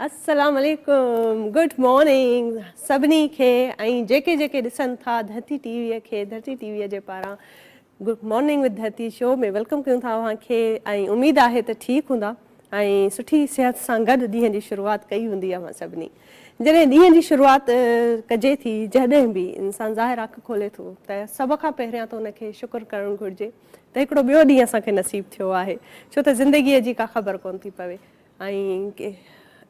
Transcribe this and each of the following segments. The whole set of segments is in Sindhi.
السلام عليڪم گڊ مارننگ سڀني کي ۽ جيڪي جيڪي ڏسن ٿا ڌرتي ٽي وي کي ڌرتي ٽي وي جي پاران good morning with Dharti show ۾ welcome ڪيون ٿا اوهان کي ۽ اميد آهي ته ٺيڪ هوندا ۽ سٺي صحت سان گڏ ڏينهن جي شروعات ڪئي هوندي اوهان سڀني جڏهن ڏينهن جي شروعات ڪجي ٿي جڏهن به انسان ظاهر اک کولي ٿو ته سڀ کان پهريان ته ان کي شڪر ڪرڻ گهرجي ته هڪڙو ٻيو ڏينهن اسان کي نصيب ٿيو آهي ڇو ته زندگيء جي ڪا خبر ڪونه ٿي پوي ۽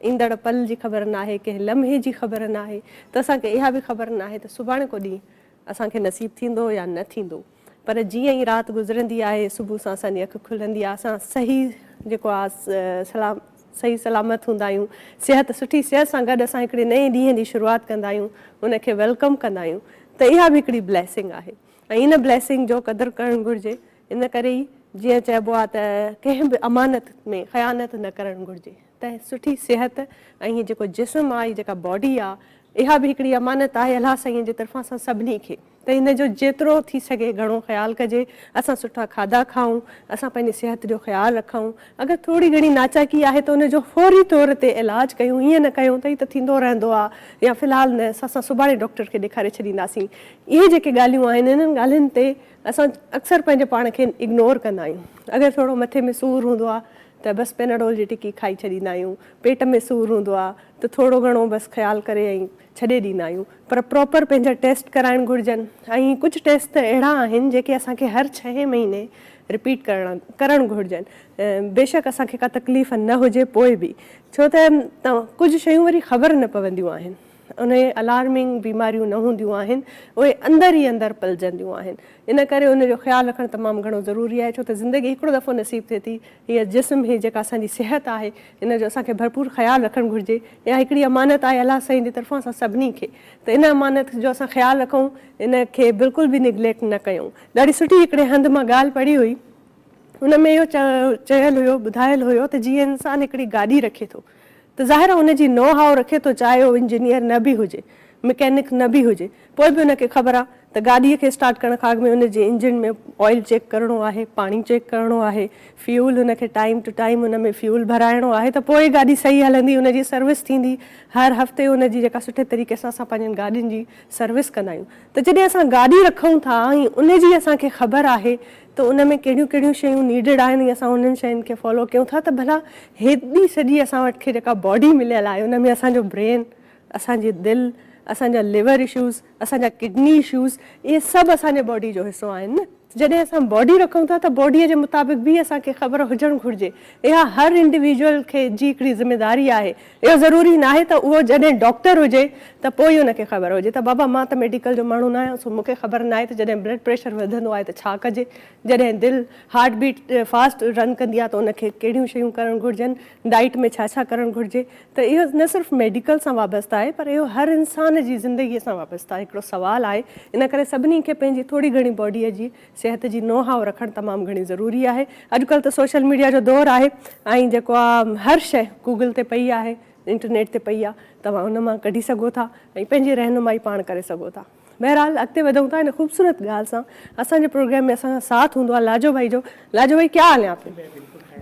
ايندڙ پل جي خبر ناهي ڪنهن لمحي جي خبر ناهي ته اسان کي اها به خبر ناهي ته سڀاڻي ڪو ڏينهن اسان کي نصيب ٿيندو يا نه ٿيندو پر جيئن ئي رات گذرندي آهي صبح سان اسان جي اک کلندي آهي اسان صحيح جيڪو آهي صحيح سلامت هوندا آهيون صحت سٺي صحت سان گڏ اسان هڪڙي نئين ڏينهن جي شروعات ڪندا آهيون ان کي ويلڪم ڪندا آهيون ته اها به هڪڙي بليسنگ آهي ۽ ان Blessing جو قدر ڪرڻ گهرجي، ان ڪري ئي جيئن چئبو آهي ته ڪنهن به امانت ۾ خيانت نه ڪرڻ گهرجي ته سٺي صحت ۽ هي جيڪو جسم آهي، هي جيڪا Body آهي، اها به هڪڙي امانت آهي الله سائين جي طرفان اسان سڀني کي ته ان جو جيترو ٿي سگهي گهڻو خيال ڪجي، اسان سٺا کاڌا کائون، اسان پنهنجي صحت جو خيال رکون، اگر ٿوري گهڻي ناچاڪي آهي ته ان جو فوري طور تي علاج ڪيون، ائين نه ڪيون ته هي ته ٿيندو رهندو آ يا في الحال نه سا اسان سڀاڻي ڊاڪٽر کي ڏيکاري ڇڏينداسين. اهي جيڪي ڳالهيون آهن انهن ڳالهين تي اسان اڪثر پنهنجي پاڻ کي اگنور ڪندا آهيون. اگر ٿورو مٿي ۾ سور هوندو آ ته بس پيناڊول جي ٽڪي کائي ڇڏيندا آهيون، پيٽ ۾ سور هوندو آ ته ٿورو گهڻو بس خيال ڪري ۽ ڇڏي ڏيندا آهيون پر پراپر پنهنجا ٽيسٽ ڪرائڻ گهرجن ۽ ڪجهه ٽيسٽ ته اهڙا آهن جيڪي اسان کي هر ڇهين مهيني رپيٽ ڪرڻا ڪرڻ گهرجن بيشڪ اسان کي ڪا تڪليف نه هجي پوء به ڇو ته ڪجهه شيون وري خبر نه پونديون آهن اهي الارمنگ بيماريون نه هونديون آهن اهي اندر ئي اندر پلجنديون آهن ان ڪري ان جو خيال رکڻ تمام گهڻو ضروري آهي ڇو ته زندگي هڪڙو دفعو نصيب ٿئي ٿي هيء جسم هي جيڪا اسان جي صحت آهي ان جو اسان کي ڀرپور خيال رکڻ گهرجي اها هڪڙي امانت آهي الله سائين جي طرفان اسان سڀني کي ته ان امانت جو اسان خيال رکون ان کي بلڪل به نگليڪٽ نه ڪيون. ڏاڍي سٺي هڪڙي هنڌ مان ڳالهه پڙهي هئي ان ۾ اهو چيل هيو ٻڌايل هيو ته جيئن انسان هڪڙي گاڏي رکي ٿو ته ظاهر ان جي نو هاء رکي ٿو چاهي هو انجنيئر نه به هجي، مڪينڪ نه به هجي، پوء به ان کي خبر آ ته گاڏيء کي اسٽارٽ ڪرڻ کان اڳ ۾ ان جي انجن ۾ آئل چيڪ ڪرڻو آهي، پاڻي چيڪ ڪرڻو آهي، فيول ان کي ٽائيم ٽو ٽائيم ان ۾ فيول ڀرائڻو آهي ته پوء گاڏي صحيح هلندي، ان جي سروس ٿيندي، هر هفتي ان جي جيڪا سٺي طريقي سان اسان پنهنجين گاڏين جي سروس ڪندا آهيون ته جڏهن اسان گاڏي رکون ٿا ۽ ان جي اسان کي خبر آهي ته ان ۾ ڪهڙيون ڪهڙيون شيون نيڊڊ آهن ۽ اسان انهن شين کي فالو ڪيون ٿا ته ڀلا هيڏي سڄي اسان وٽ کي جيڪا باڊي مليل آهي ان ۾ اسان جو برين، اسان جي دل، اسان جا ليور اشوز، اسان جا ڪڊني اشوز اهي سڀ اسان جي باڊي جو حصو آهن نه. جڏهن اسان باڊي رکون ٿا ته باڊي جي مطابق به اسان کي خبر هجڻ گهرجي اها هر انڊيويجول کي جي هڪڙي ذميداري آهي اهو ضروري ناهي ته اهو جڏهن ڊاڪٽر هجي ته پوء ئي ان کي خبر هجي ته بابا مان ته ميڊيڪل جو ماڻهو نه آهيان سو مون کي خبر ناهي ته جڏهن بلڊ پريشر وڌندو آهي ته ڇا ڪجي، جڏهن دل، هارٽ بيٽ، فاسٽ رن ڪندي آهي ته ان کي ڪهڙيون شيون ڪرڻ گهرجن، ڊائيٽ ۾ ڇا ڇا ڪرڻ گهرجي ته اهو نه صرف ميڊيڪل سان وابسته آهي پر اهو هر انسان جي زندگي سان وابسته هڪڙو سوال آهي ان ڪري سڀني کي پنهنجي ٿوري گهڻي باڊي جي صحت جي نو هاء رکڻ تمام گهڻي ضروري آهي اڄ ڪلهه ته سوشل ميڊيا جو دور آهي ۽ جيڪو آ هر شئي گوگل تي پئي آهي انٽرنيٽ تي پئي آ توهان ان مان ڪڍي سگهو ٿا ۽ پنهنجي رهنمائي پاڻ ڪري سگهو ٿا بهرحال اڳتي وڌون ٿا ان خوبصورت ڳالهه سان اسان جي پروگرام ۾ اسان سان ساٿ هوندو آ لاجو ڀائي جو لاجو ڀائي ڪيا حال هي آپ ڪي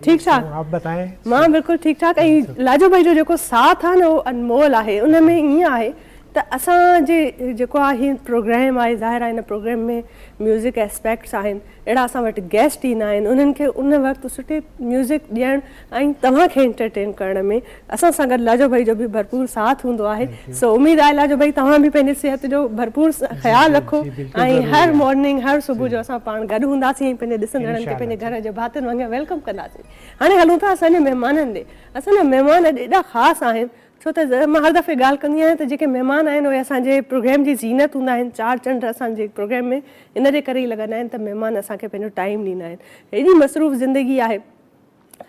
ٺيڪ ٺاڪ آپ بتائين مان بلڪل ٺيڪ ٺاڪ ۽ لاجو ڀائي جو جيڪو ساٿ آ نه اهو انمول آهي ان ۾ ائين آهي ته اسان جي جيڪو آ هي پروگريم آهي ظاهر آهي ان پروگريم ۾ ميوزڪ اسپيڪٽس آهن اهڙا اسان وٽ گيسٽ ايندا آهن انهن کي ان وقت سٺي ميوزڪ ڏيڻ ۽ توهان کي انٽرٽين ڪرڻ ۾ اسان سان گڏ لاجو ڀائي جو به ڀرپور ساٿ هوندو آهي سو اميد آهي لاجو ڀائي توهان به پنهنجي صحت جو ڀرپور خيال رکو ۽ هر مارننگ هر صبح جو اسان پاڻ گڏ هونداسين ۽ پنهنجي ڏسندڙن کي پنهنجي گهر جي ڀاتين وانگر ويلڪم ڪنداسين هاڻي هلون ٿا اسان جي مهمانن ڏي اسان جا مهمان اڄ ايڏا خاص آهن ڇو ته مان هر دفعي ڳالهه ڪندي آهيان ته جيڪي مهمان آهن اهي اسان جي پروگرام جي زينت هوندا آهن، چار چنڊ اسان جي پروگرام ۾ ان جي ڪري ئي لڳندا آهن ته مهمان اسان کي پنهنجو ٽائيم ڏيندا آهن. هيڏي مصروف زندگي آهي،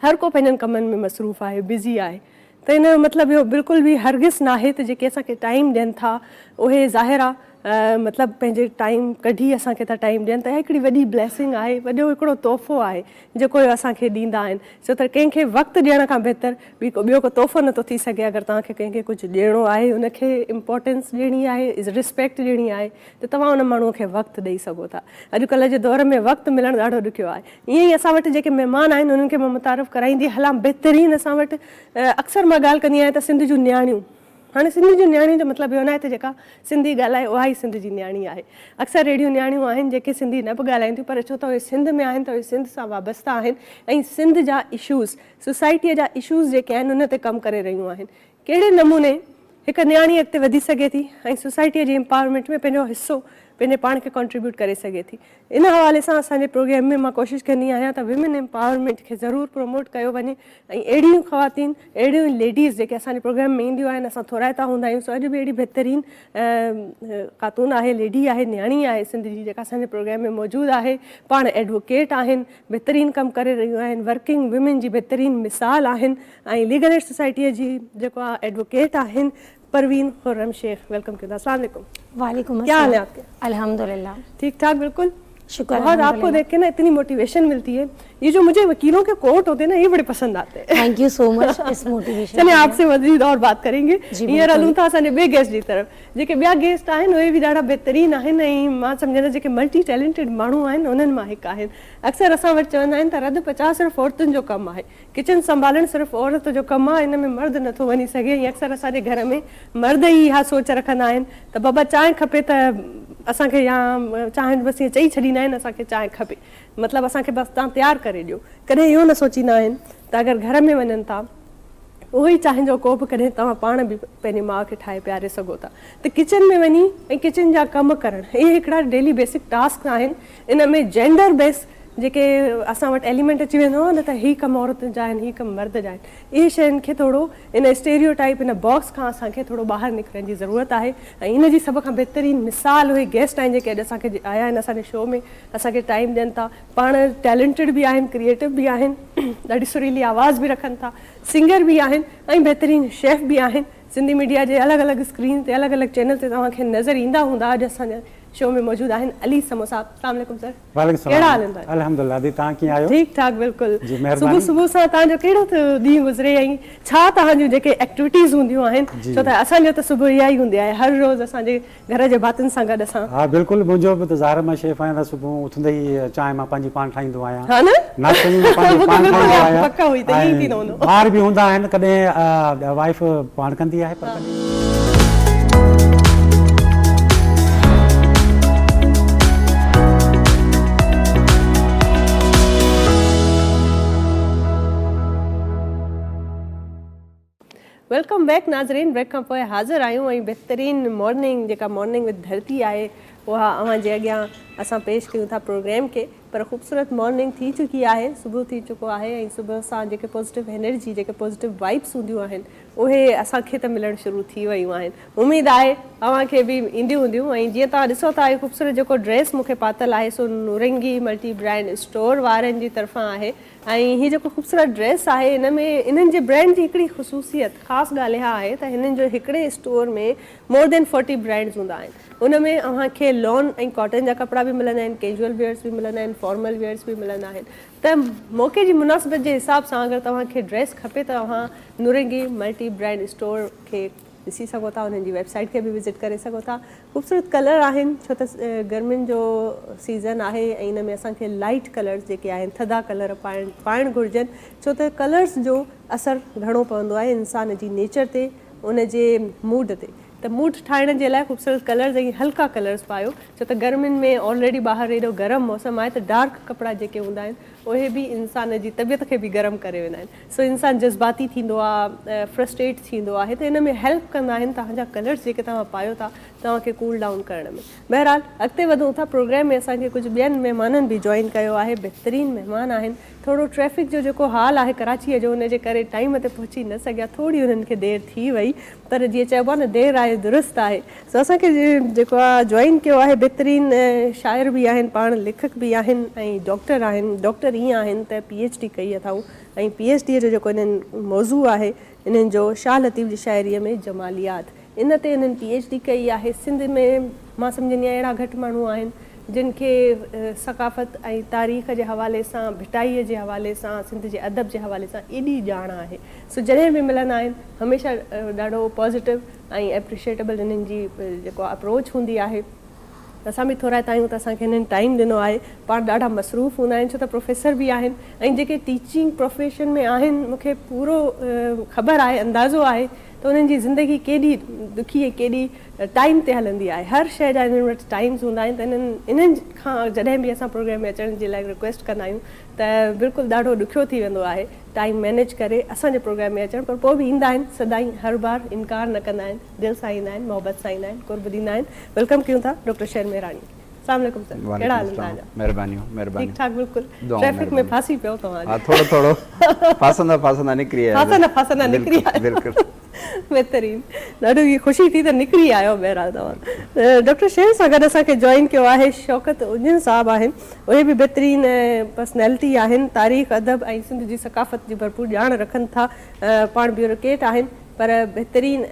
هر ڪو پنهنجن ڪمن ۾ مصروف آهي، بزي آهي ته ان جو مطلب اهو بلڪل به هرگز ناهي ته جيڪي اسان کي ٽائيم ڏين ٿا اهي ظاهر آ مطلب پنهنجي ٽائيم ڪڍي اسان کي ٿا ٽائيم ڏين ته اها هڪڙي وڏي بليسنگ آهي وڏو هڪڙو تحفو آهي جيڪو اهي اسان کي ڏيندا آهن ڇو ته ڪنهن کي وقت ڏيڻ کان بهتر ٻيو ڪو تحفو نه ٿو ٿي سگهي اگر توهان کي ڪنهن کي ڪجهه ڏيڻو آهي ان کي امپورٽنس ڏيڻي آهي رسپيڪٽ ڏيڻي آهي ته توهان ان ماڻهو کي وقت ڏئي سگهو ٿا اڄ ڪلهه جي دور ۾ وقت ملڻ ڏاڍو ڏکيو آهي ائين ئي اسان وٽ جيڪي مهمان آهن انهن کي مان متعارف ڪرائيندي هلان بهترين اسان وٽ اڪثر مان ڳالهه ڪندي آهيان ته سنڌ جون نياڻيون هاڻي سنڌ جي نياڻي جو مطلب اهو ناهي ته جيڪا سنڌي ڳالهائي اها ئي سنڌ جي نياڻي آهي. اڪثر اهڙيون نياڻيون آهن جيڪي سنڌي نه به ڳالهائين ٿيون پر ڇو ته اهي سنڌ ۾ آهن ته اهي سنڌ سان وابسته آهن ۽ سنڌ جا اشوز، سوسائٽيء جا اشوز جيڪي آهن ان تي ڪم ڪري رهيون آهن. ڪهڙي نموني هڪ نياڻي اڳتي وڌي سگهي ٿي ۽ سوسائٽيء جي امپاورمينٽ ۾ پنهنجو حصو پنهنجي پاڻ کي ڪانٽريبيوٽ ڪري سگهي ٿي. ان حوالي سان اسان جي پروگرام ۾ مان ڪوشش ڪندي آهيان ته ويمن ايمپاورمينٽ کي ضرور پروموٽ ڪيو وڃي ۽ اهڙيون خواتين اهڙيون ليڊيز جيڪي اسان جي پروگرام ۾ اينديون آهن اسان ٿورائتا هوندا آهيون سو اڄ به اهڙي بهترين خاتون آهي ليڊي آهي نياڻي آهي سنڌ جي جيڪا اسان جي پروگرام ۾ موجود آهي پاڻ ايڊووڪيٽ آهن بهترين ڪم ڪري رهيون آهن ورڪنگ ويمن جي بهترين مثال آهن ۽ ليگل ايڊ سوسائٽي جي جيڪو ايڊووڪيٽ آهن پروين خرم شيخ ويلڪم ڪيو ٿا السلام عليڪم وعليڪم السلام ڪيا حال هي آپ ڪي الحمدلله ٺيڪ ٺاڪ بلڪل شڪر بهت آپ ڪو ديک ڪي نه اتني موٽيويشن ملتي هي يي جو مجهي وڪيلون ڪي ڪورٽ هوتي نه يي بڙي پسند آتي هي ٿينڪ يو سو مچ اس موٽيويشن چلي آپ سي مزيد اور بات ڪرين گي هينئر هلون ٿا اسان جي ٻي گيسٽ جي طرف جيڪي ٻيا گيسٽ آهن اهي به ڏاڍا بهترين آهن ۽ مان سمجهندس جيڪي ملٽي ٽيلنٽيڊ ماڻهو آهن انهن مان هڪ آهن اڪثر اسان وٽ چوندا آهن ته رڌ پچاء صرف عورتن جو ڪم آهي ڪچن سنڀالڻ صرف عورت جو ڪم آ ان ۾ مرد نه ٿو وڃي سگهي ۽ اڪثر اسان جي گهر ۾ مرد ئي اها سوچ رکندا آهن ته بابا چانهه کپي ته اسان کي يا چانهه بس ائين چئي ڇڏيندا آهن اسان کي چانهه کپي مطلب اسان کي بس تان تيار ڪري ڏيو ڪڏهن اهو نه سوچيندا آهن ته اگر گهر ۾ وڃن ٿا اهو ئي چانهه جو ڪوپ ڪڏهن توهان پاڻ به پنهنجي ماء کي ٺاهي پياري سگهو ٿا ته ڪچن ۾ وڃي ۽ ڪچن جا ڪم ڪرڻ اهي هڪڙا ڊيلي بيسڪ ٽاسڪ آهن ان ۾ جينڊر بيس جيڪي اسان وٽ ايليمينٽ اچي ويندو هو نه ته هي ڪم عورتن جا آهن هي ڪم مرد جا آهن اهي شين کي ٿورو ان اسٽيريو ٽائيپ ان باڪس کان اسان کي ٿورو ٻاهر نڪرڻ جي ضرورت آهي ۽ ان جي سڀ کان بهترين مثال اهي گيسٽ آهن جيڪي اڄ اسان کي آيا آهن اسان جي شو ۾ اسان کي ٽائيم ڏين ٿا پاڻ ٽيلينٽيڊ به آهن ڪريئيٽو به آهن ڏاڍي سريلي آواز به رکن ٿا سنگر به آهن ۽ بهترين شيف به آهن سنڌي ميڊيا جي الڳ الڳ اسڪرين تي الڳ الڳ چينل تي توهان کي نظر ايندا هوندا اڄ اسان جي شو ۾ موجود آهن علي سمون صاحب سلام عليڪم سر وعليڪم السلام ڪهڙا حال آهن تانجا؟ الحمدلله دي تهان ڪيئن آهيو؟ ٺيڪ ٺاڪ بلڪل جي مهرباني صبح صبح سان تهان جو ڪهڙو ڏينهن گذري ۽ ڇا تهان جون جيڪي ايڪٽويٽيز هونديون آهن جي ڇو ته اسان جو ته صبح اها ئي هوندي آهي هر روز اسان جي گهر جي ڀاتين سان گڏ اسان ها بلڪل منهنجو به ته ظاهر مان شيف آهيان ته صبح اٿندي ئي چانهه مان پنهنجي پاڻ ٺاهيندو آهيان ها نه ناشتو به مان پنهنجو مون کي پاڻ بلڪل ٺاهيندو ياد آهيان پڪ هئي ته ائين ئي ۽ پيئندو هوندو ٻار به هوندا آهن ڪڏهن وائيف پاڻ ڪندي آهي پر ويلڪم بيڪ ناظرين بريڪ کان پوء حاضر آهيون ۽ بهترين مارننگ جيڪا مارننگ وٿ ڌرتي آهي اها اوهان جي اڳيان اسان پيش ڪيون ٿا پروگرام کي پر خوبصورت مارننگ ٿي چڪي آهي صبح ٿي چڪو آهي ۽ صبح سان جيڪي پازيٽو انرجي جيڪي پازيٽو وائيبس هونديون آهن اهي اسان کي ته ملڻ شروع ٿي ويون آهن اميد آهي اوهان کي به اينديون هونديون ۽ جيئن توهان ڏسو ٿا هي خوبصورت جيڪو ڊريس مون کي پاتل آهي سو نورنگي ملٽي برانڊ اسٽور وارن جي طرفان آهي ۽ هي جيڪو خوبصورت ڊريس آهي ان ۾ انهن جي برانڊ جي هڪڙي خصوصيت خاص ڳالهه اها آهي ته هنن جو هڪڙي store ۾ more than forty brands هوندا آهن ان ۾ اوهان کي لون ۽ ڪاٽن جا ڪپڙا به ملندا آهن، ڪيزوئل ويئرس به ملندا آهن، فارمل ويئرس به ملندا آهن ته موقعي جي مناسبت جي حساب سان اگر توهان کي ڊريس کپي ته اوهان نورنگي ملٽي برانڊ اسٽور کي ڏسي سگهو ٿا انهن جي ويب سائيٽ کي به وزٽ ڪري سگهو ٿا خوبصورت ڪلر آهن ڇو ته گرمين جو سيزن آهي ۽ ان ۾ اسان کي لائٽ ڪلرس جيڪي آهن ٿڌا ڪلر پائڻ گهرجن ڇو ته ڪلرس جو اثر گهڻو پوندو آهي انسان جي نيچر تي ان جي موڊ تي ته موڊ ٺاهڻ جي لاء خوبصورت ڪلرز ۽ هلڪا ڪلرز پايو ڇو ته گرمين ۾ آلريڊي ٻاهر ايڏو گرم موسم آهي ته ڊارڪ ڪپڙا جيڪي هوندا آهن اهي به انسان جي طبيعت کي به گرم ڪري ويندا آهن سو انسان جذباتي ٿيندو آ فرسٽريٽ ٿيندو آهي ته ان ۾ هيلپ ڪندا آهن توهان جا ڪلرز جيڪي توهان پايو ٿا توهان کي ڪول ڊائون ڪرڻ ۾ بهرحال اڳتي وڌون ٿا پروگرام ۾ اسان کي ڪجهه ٻين مهمانن به جوائن ڪيو آهي بهترين مهمان آهن ٿورو ٽريفڪ جو جيڪو حال آهي ڪراچي جو ان جي ڪري ٽائيم تي پهچي نه سگهيا ٿوري انهن کي دير ٿي وئي پر جيئن چئبو آهي نه دير آئي درست آهي سو اسان کي جيڪو آ جوائن ڪيو آهي بھترين شاعر به آهن پاڻ ليکڪ به آهن ۽ ڊاڪٽر آهن ڊاڪٽر ايئن آهن ته پي ايڇ ڊي ڪئي اٿائون ۽ پي ايڇ ڊي جو جيڪو انهن موضوع آهي انهن جو شاھ لطيف جي شاعري ۾ جماليات ان تي انهن پي ايڇ ڊي ڪئي آهي سنڌ ۾ مان سمجهندي آهيان اهڙا گهٽ ماڻهو آهن جن کي ثقافت ۽ تاريخ جي حوالي سان ڀٽائي جي حوالي سان سنڌ جي ادب جي حوالي سان ايڏي ڄاڻ آهي سو جڏهن به ملندا آهن هميشه ڏاڍو پازيٽو ۽ اپريشيٽيبل هنن جي جيڪو اپروچ هوندي آهي اسان به ٿورائتا آهيون ته اسان کي هنن ٽائيم ڏنو آهي پاڻ ڏاڍا مصروف هوندا آهن ڇو ته پروفيسر به آهن ۽ جيڪي ٽيچنگ پروفيشن ۾ آهن مون کي پورو خبر آهي اندازو آهي ته انهن جي زندگي ڪيڏي ڏکي ۽ ڪيڏي ٽائيم تي هلندي آهي هر شئي جا هنن وٽ ٽائيمز هوندا آهن ته انهن کان جڏهن به اسان پروگرام ۾ اچڻ جي لاء رڪويسٽ ڪندا آهيون ته بلڪل ڏاڍو ڏکيو ٿي ويندو آهي ٽائيم مينيج ڪري اسان جي پروگرام ۾ اچڻ پر پوء به ايندا آهن سدائين هر بار انڪار نه ڪندا آهن دل سان ايندا آهن محبت سان ايندا آهن قرب ڏيندا آهن ويلڪم ڪيون ٿا ڊاڪٽر شير مهراڻي سلام عليڪم سر ڪهڙا حال آهن تهانجا مهربانيون مهربانيون ٺيڪ ٺاڪ بلڪل ٽريفڪ ۾ ڦاسي پيو توهان ها ٿورو ٿورو ڦاسندا ڦاسندا نڪري آيا ڦاسندا ڦاسندا نڪري آيا بلڪل بهترين ڏاڍو ئي خوشي ٿي ته نڪري آيو بهرحال توهان ڊاڪٽر شير سان گڏ اسان کي جوائن ڪيو آهي شوڪت اڃ صاحب آهن اهي به بهترين پرسنالٽي آهن تاريخ ادب ۽ سنڌ جي ثقافت جي ڀرپور ڄاڻ رکن ٿا پاڻ بيورڪيٽ آهن پر بهترين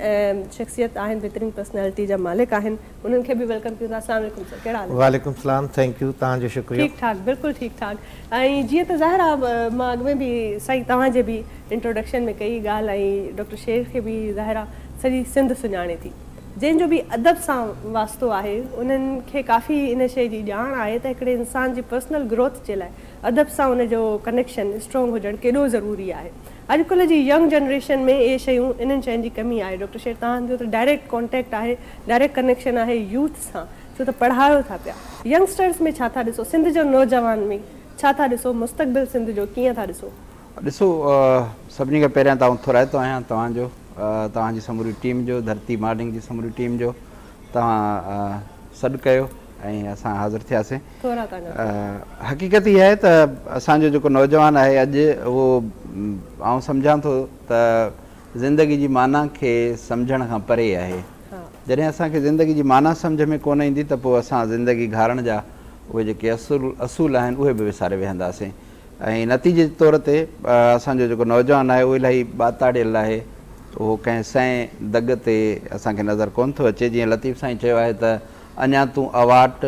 شخصيت آهن بهترين پرسنالٽي جا مالڪ آهن انهن کي به ويلڪم ڪيون ٿا اسلام عليڪم سر ڪهڙا حال آهن. وعليڪم سلام ٿينڪ يو توهان جو شڪريو. ٺيڪ ٺاڪ بلڪل ٺيڪ ٺاڪ ۽ جيئن ته ظاهر آ مان اڳ ۾ به سائين توهان جي به انٽروڊڪشن ۾ ڪئي ڳالهه ۽ ڊاڪٽر شير کي به ظاهر آ سڄي سنڌ سڃاڻي ٿي جنهن جو به ادب سان واسطو آهي انهن کي ڪافي ان شئي جي ڄاڻ آهي ته هڪڙي انسان جي پرسنل گروٿ جي لاء ادب سان ان جو ڪنيڪشن اسٽرونگ هجڻ ڪيڏو ضروري آهي اڄڪلهه جي ينگ جنريشن ۾ اهي شيون انهن شين جي ڪمي آهي ڊاڪٽر شير توهان جو ته ڊائريڪٽ ڪانٽيڪٽ آهي ڊائريڪٽ ڪنيڪشن آهي يوٿ سان ڇو ته پڙهايو ٿا پيا ينگسٽرز ۾ ڇا ٿا ڏسو سنڌ جو نوجوان ۾ ڇا ٿا ڏسو مستقبل سنڌ جو ڪيئن ٿا ڏسو. ڏسو سڀني کان پهريان ته آئون ٿورائتو آهيان توهان جو توهان جي سموري ٽيم جو ڌرتي مارننگ جي سموري ٽيم جو. توهان سڏ ڪيو ۽ اسان حاضر ٿياسين حقيقت هي آهي ته اسان جو جيڪو نوجوان آهي اڄ اهو آئون سمجهان ٿو ته زندگي جي معنيٰ کي سمجهڻ کان پري آهي جڏهن اسان کي زندگي جي معنيٰ سمجهه ۾ ڪونه ايندي ته پوء اسان زندگي گهارڻ جا اهي جيڪي اصول آهن اهي به وساري ويهنداسين ۽ نتيجي جي طور تي اسان جو جيڪو نوجوان آهي اهو الاهي ٻاتاڙيل آهي اهو ڪنهن سئين دڳ تي اسان کي نظر ڪونه ٿو اچي جيئن لطيف سائين چيو آهي ته اڃان تون اواٽ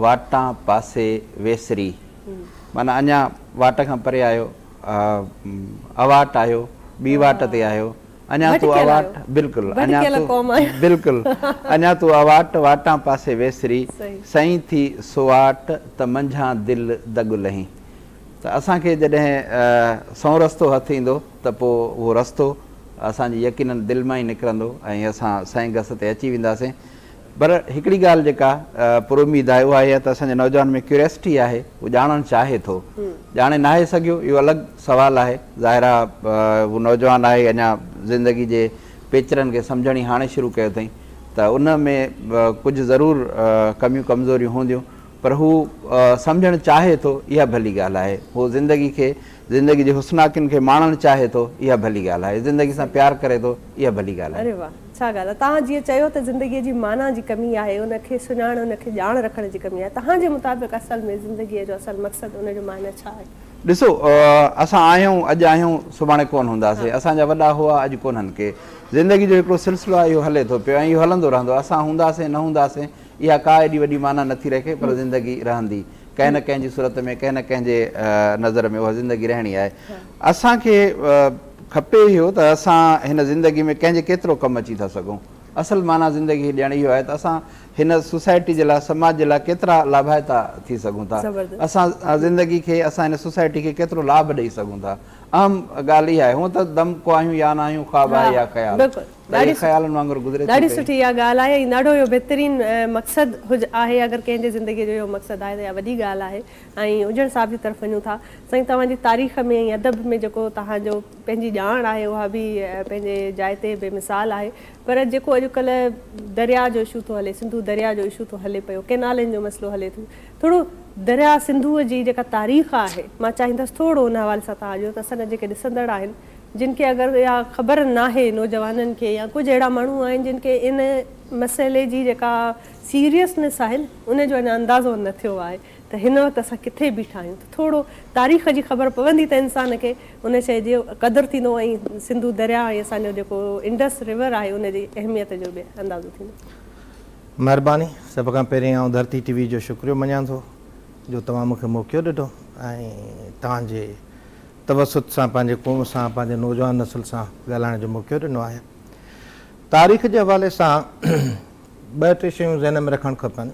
واٽان پاسي ويسري معنيٰ اڃان واٽ کان پري آهيو اواٽ آهيو ٻي واٽ تي آهيو اڃا تون اواٽ، بلڪل، اڃا تون، بلڪل، اڃا تون اواٽ، واٽان پاسي ويسري، سئي ٿي سواٽ، ته منجهان دل دڳ لهين. ته اسان کي جڏهن سئون رستو هٿ ايندو ته پوء اهو رستو اسان جي يقينن دل مان ئي نڪرندو ۽ اسان سئين گس تي اچي وينداسين. پر هڪڙي ڳالهه جيڪا پراميد آهي اها اها ته اسان جي نوجوان ۾ ڪيوريسٽي آهي هو ڄاڻڻ چاهي ٿو ڄاڻي ناهي سگهيو اهو الڳ سوال آهي ظاهر آهي هو نوجوان آهي اڃا زندگي جي پيچرن کي سمجهڻ ئي هاڻي شروع ڪيو اٿئي ته ان ۾ ڪجهه ضرور ڪميون ڪمزوريون هونديون پر هو سمجهڻ چاهي ٿو اها ڀلي ڳالهه آهي هو زندگي کي زندگي جي حسناڪين کي ماڻڻ چاهي ٿو اها ڀلي ڳالهه آهي زندگي سان پيار ڪري ٿو اها ڀلي ڳالهه آهي ڇا ڳالهه آهي توهان جيئن چيو ته زندگي جي معنيٰ جي ڪمي آهي ان کي سڃاڻ ان کي ڄاڻ رکڻ جي ڪمي آهي توهان جي مطابق اصل ۾ زندگي جو اصل مقصد ان جو معنيٰ ڇا آهي؟ ڏسو اسان آهيون اڄ آهيون سڀاڻي ڪون هونداسين اسان جا وڏا هئا اڄ ڪونهن ڪي زندگي جو هڪڙو سلسلو آهي اهو هلي ٿو پيو ۽ اهو هلندو رهندو اسان هونداسين نه هونداسين اها ڪا ايڏي وڏي معنيٰ نه ٿي رکي پر زندگي رهندي ڪنهن نه ڪنهن جي صورت ۾ ڪنهن نه ڪنهن جي نظر ۾ اها زندگي رهڻي آهي اسان کي کپي اهو ته اسان هن زندگي ۾ ڪنهن جي ڪيترو ڪم اچي ٿا سگهون. اصل معنيٰ زندگيء جي ڄڻ اهو آهي ته اسان هن سوسائٽي جي لاء، سماج جي لاء ڪيترا لاڀائتا ٿي سگهون ٿا. اسان زندگي کي، اسان هن سوسائٽي کي ڪيترو لاڀ ڏئي سگهون ٿا. اهم ڳالهه اها آهي. هونء ته دم ڪو آهيون يا نه آهيون، خواب آهي يا خيال، ته اهي خيالن وانگر گذري ٿي پئي. ڏاڍي سٺي اها ڳالهه آهي ۽ ڏاڍو اهو بهترين مقصد آهي. اگر ڪنهن جي زندگيء جو اهو مقصد آهي ته اها وڏي ڳالهه آهي. ۽ اجهڙ صاحب جي طرف وڃون ٿا سائين توهان جي تاريخ ۾ ۽ ادب ۾ جيڪو توهان جو پنهنجي ڄاڻ آهي اها به پنهنجي جاء تي بي مثال آهي پر جيڪو اڄ ڪلهه دريا جو اشو ٿو هلي سنڌو دريا جو اشو ٿو هلي پيو ڪينالن جو مسئلو هلي ٿو ٿورو دريا سنڌو جي جيڪا تاريخ آهي مان چاهيندس ٿورو ان حوالي سان توهان جو ته اسان جا جيڪي ڏسندڙ آهن جن کي اگر اها خبر ناهي نوجوانن کي يا ڪجهه اهڙا ماڻهو آهن جن کي ان مسئلي جي جيڪا سيريسنس آهي ان جو اڃا اندازو نه ٿيو آهي. ته هن وقت اسان ڪٿي بيٺا آهيون ته ٿورو تاريخ جي خبر پوندي ته انسان کي ان شيء جو قدر ٿيندو ۽ سنڌو درياء ۽ اسان جو جيڪو انڊس ريور آهي ان جي اهميت جو به اندازو ٿيندو. مهرباني، سڀ کان پهرين آئون ڌرتي ٽي وي جو شڪريو مڃان ٿو جو توهان مون کي موقعو ڏٺو ۽ توهان جي توسط سان پنهنجي قوم سان پنهنجي نوجوان نسل سان ڳالهائڻ جو موقعو ڏنو آهي. تاريخ جي حوالي سان ٻه ٽي شيون ذهن ۾ رکڻ کپن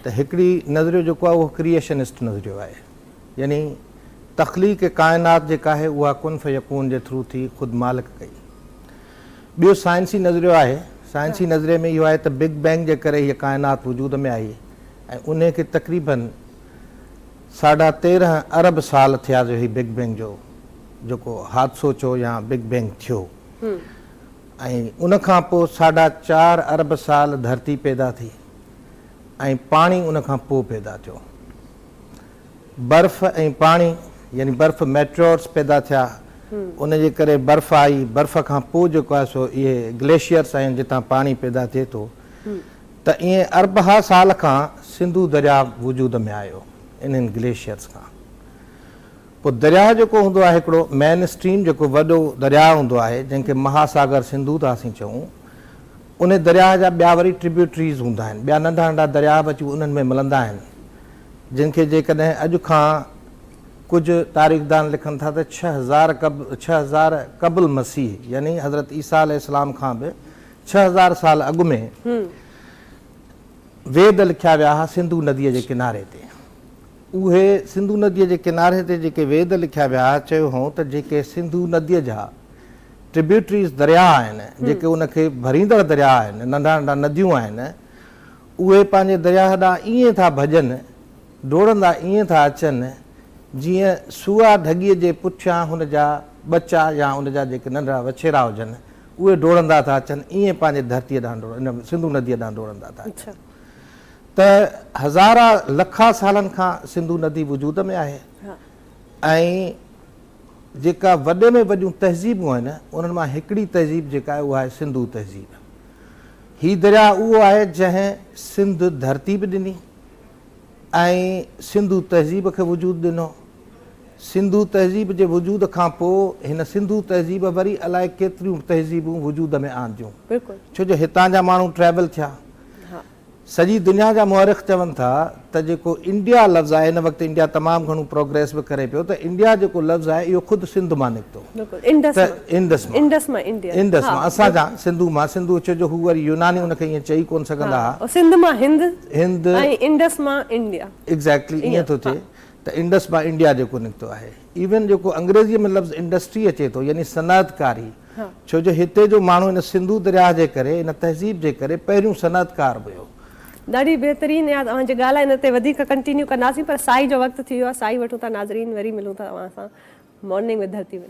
ته هڪڙي نظريو جيڪو آهي اهو ڪريئشنسٽ نظريو آهي يعني تخليق ڪائنات جيڪا آهي اها ڪن فيڪون جي ٿرو ٿي خود مالڪ ڪئي ٻيو سائنسي نظريو آهي سائنسي نظريي ۾ اهو آهي ته بگ بينگ جي ڪري هيء ڪائنات وجود ۾ آئي ۽ انهي کي تقريباً ساڍا تيرهن ارب سال ٿيا جو هي بگ بينگ جو جيڪو حادثو چئو يا بگ بينگ ٿيو ۽ ان کان پوء ساڍا چار ارب سال ڌرتي پيدا ٿي ۽ پاڻي ان کان پوء پيدا ٿيو. برف ۽ پاڻي يعني برف ميٽيورس پيدا ٿيا ان جي ڪري برف آئي برف کان پوء جيڪو آهي سو اهي گليشيئرس آهن جتان پاڻي پيدا ٿئي ٿو ته ايئن اربها سال کان سنڌو درياء وجود ۾ آيو انهن گليشيئرس کان. پوء درياهه جيڪو هوندو آهي هڪڙو مين اسٽريم جيڪو وڏو درياهه هوندو آهي جنهن کي مها ساگر سنڌو ٿا اسين چئون انهي درياهه جا ٻيا وري ٽريبيوٽريز هوندا آهن ٻيا ننڍا ننڍا درياهه به اچي انهن ۾ ملندا آهن جن کي جيڪڏهن اڄ کان ڪجهه تاريخدان لکن ٿا ته ڇهه هزار قب ڇهه هزار قبل مسيح يعني حضرت عيسيٰ عليه السلام کان به ڇهه هزار سال اڳ ۾ ويد لکيا ويا ها سنڌو نديء جي ڪناري تي. اهي سنڌو نديء جي ڪناري تي جيڪي ويد لکيا ويا ها، چيو هئون ته جيڪي سنڌو نديء جا Tributaries درياء آهن، جيڪي ان کي ڀريندڙ درياء آهن، ننڍا ننڍا نديون آهن، اهي پنهنجي درياهه ڏانهن ائين ٿا ڀڄن، ڊوڙندا ائين ٿا اچن، جيئن سوئا ڍڳيء جي پٺيان هن جا ٻچا يا ان جا جيڪي ننڍڙا وڇيرا هجن، اهي ڊوڙندا ٿا اچن ائين پنهنجي ڌرتيء ڏانهن ڊوڙ ان سنڌو نديء ڏانهن ڊوڙندا ٿا اچن ته هزارا لکا سالن کان سنڌو ندي وجود ۾ آهي ۽ جيڪا وڏي ۾ وڏيون تهذيبون آهن انهن مان هڪڙي تهذيب جيڪا آهي اها آهي سنڌو تهذيب هي درياء اهو آهي جنهن سنڌ ڌرتي به ڏني ۽ سنڌو تهذيب کي وجود ڏنو سنڌو تهذيب جي وجود کان پوء هن سنڌو تهذيب وري الائي ڪيتريون تهذيبون وجود ۾ آنديون ڇو جو هتان جا ماڻهو ٽريول ٿيا سڄي دنيا جا مؤرخ چون ٿا ته جيڪو انڊيا لفظ آهي ان وقت انڊيا تمام گهڻو پروگريس به ڪري پيو ته انڊيا جيڪو لفظ آهي اهو خود سنڌ مان نڪتو ته انڊس مان انڊس مان انڊيا انڊس مان اسان جا سنڌو مان سنڌو ڇو جو هو وري يوناني ان کي ائين چئي ڪون سگهندا هئا سنڌ مان هند هند ۽ انڊس مان انڊيا ايگزيڪٽلي ائين ٿو ٿئي ته انڊس مان انڊيا جيڪو نڪتو آهي ايون جيڪو انگريزيء ۾ لفظ انڊسٽري اچي ٿو يعني صنعت ڪاري ڇو جو هتي جو ماڻهو ان سنڌو درياهه جي ڪري ان تهذيب جي ڪري پهريون صنعت ڪار به هيو. ڏاڍي بهترين اياز اوهان جي ڳالهه ان تي وڌيڪ ڪنٽينيو ڪنداسين پر سائي جو وقت ٿي ويو آهي سائي وٺون ٿا ناظرين وري ملون ٿا اوهان سان مارننگ وٿ ڌرتي ۾.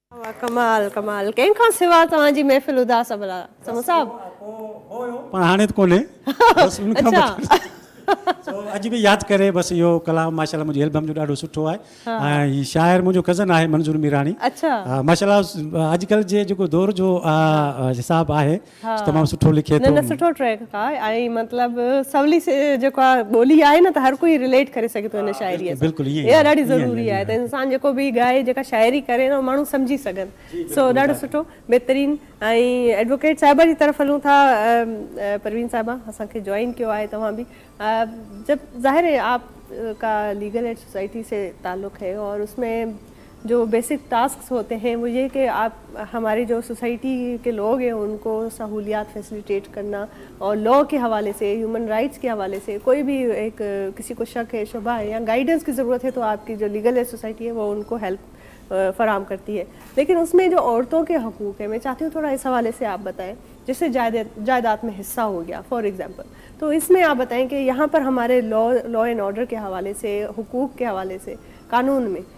واھ ڪمال ڪمال ڪنهن کان سوا توهان جي محفل اداس ابلا سمون صاحب. هو هو هو پر هاڻي ته ڪونهي بس ان کان اڇا سو اڄ به ياد ڪري بس اهو ڪلام ماشاء الله منهنجي البم جو ڏاڍو سٺو آهي ۽ هي شاعر منهنجو ڪزن آهي منظور ميراڻي اڇا ماشاء الله اڄ ڪلهه جي جيڪو دور جو حساب آهي تمام سٺو لکي ٿو. نه نه سٺو ٽريڪ ڪا ۽ مطلب سولي جيڪو آ ٻولي آهي نه ته هر ڪوئي رليٽ ڪري سگهي ٿو هن شاعري سان بلڪل ائين اها ڏاڍي ضروري آهي ته انسان جيڪو به ڳائي جيڪا شاعري ڪري نه ماڻهو سمجهي سگهن سو ڏاڍو سٺو بهترين ۽ ايڊووڪيٽ صاحبه جي طرف هلون ٿا پروين صاحبه اسان کي جوائن ڪيو آهي توهان به جب ظاهر هي آپ ڪا ليگل ايڊ سوسائٽي سي تعلق هي اور اس ۾ جو بيسڪ ٽاسڪس هوتي هين وو يي ڪي آپ هماري جو سوسائٽي ڪي لوگ هين ان ڪو سهوليات فيسليٽيٽ ڪرنا اور لا ڪي حوالي سي هيومن رائيٽس ڪي حوالي سي ڪوئي بي هڪ ڪسي ڪو شڪ هين شبه هين يا گائيڊنس ڪي ضرورت هين تو آپ ڪي جو ليگل سوسائٽي هين وو ان ڪو هيلپ فراهم ڪرتي هين ليڪن اس مين جو عورتون ڪي حقوق هين مين چاهتي هون ٿوڙا اس حوالي سي آپ بتائين جيسي جائداد مين حصه هو گيا فور ايگزامپل تو اس مين آپ بتائين ڪي يهان پر هماري لا لا اينڊ آرڊر ڪي حوالي سي حقوق ڪي حوالي سي قانون مين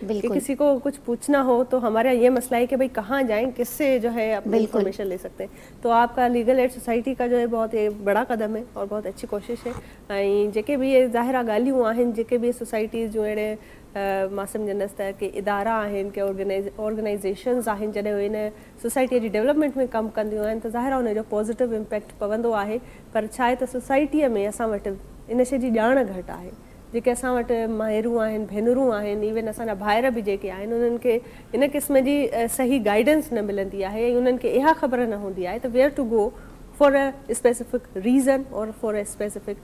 ڪي بلڪل. ڪسي ڪو ڪجھ پوڇنا ھو تو ھماري يھان يھ مسئلا ھي ڪي بھي ڪھان جائين ڪس سي جو ھي اپني بلڪل. انفارميشن لي سڪتي ھين تو آپ ڪا ليگل ايڊ سوسائٽي ڪا جو ھي بھت يھ بڙا قدم ھي اور بھت اچھي ڪوشش ھي ۽ جيڪي بھ يھ ظاھر آ ڳالھيون آھن جيڪي بھ يھ سوسائٽيز جون اھڙي مان سمجھندس تھ ڪي ادارا آھن ڪي آرگنائزيشنز آھن جڏھن ھو ھن سوسائٽي جي ڊولپمينٽ ۾ ڪم ڪنديون آھن تھ ظاھر آ ان جو پازيٽو امپيڪٽ پوندو آھي پر ڇا ھي تھ سوسائٽي ۾ اسان وٽ ان شي جي ڄاڻ گھٽ آھي جيڪي اسان وٽ مائرون آهن ڀينرون آهن ايون اسان جا ڀائر به جيڪي آهن انهن کي ان قسم جي صحيح گائيڊنس نه ملندي آهي ۽ انهن کي اها خبر نه هوندي آهي ته where to go for a specific reason or for a specific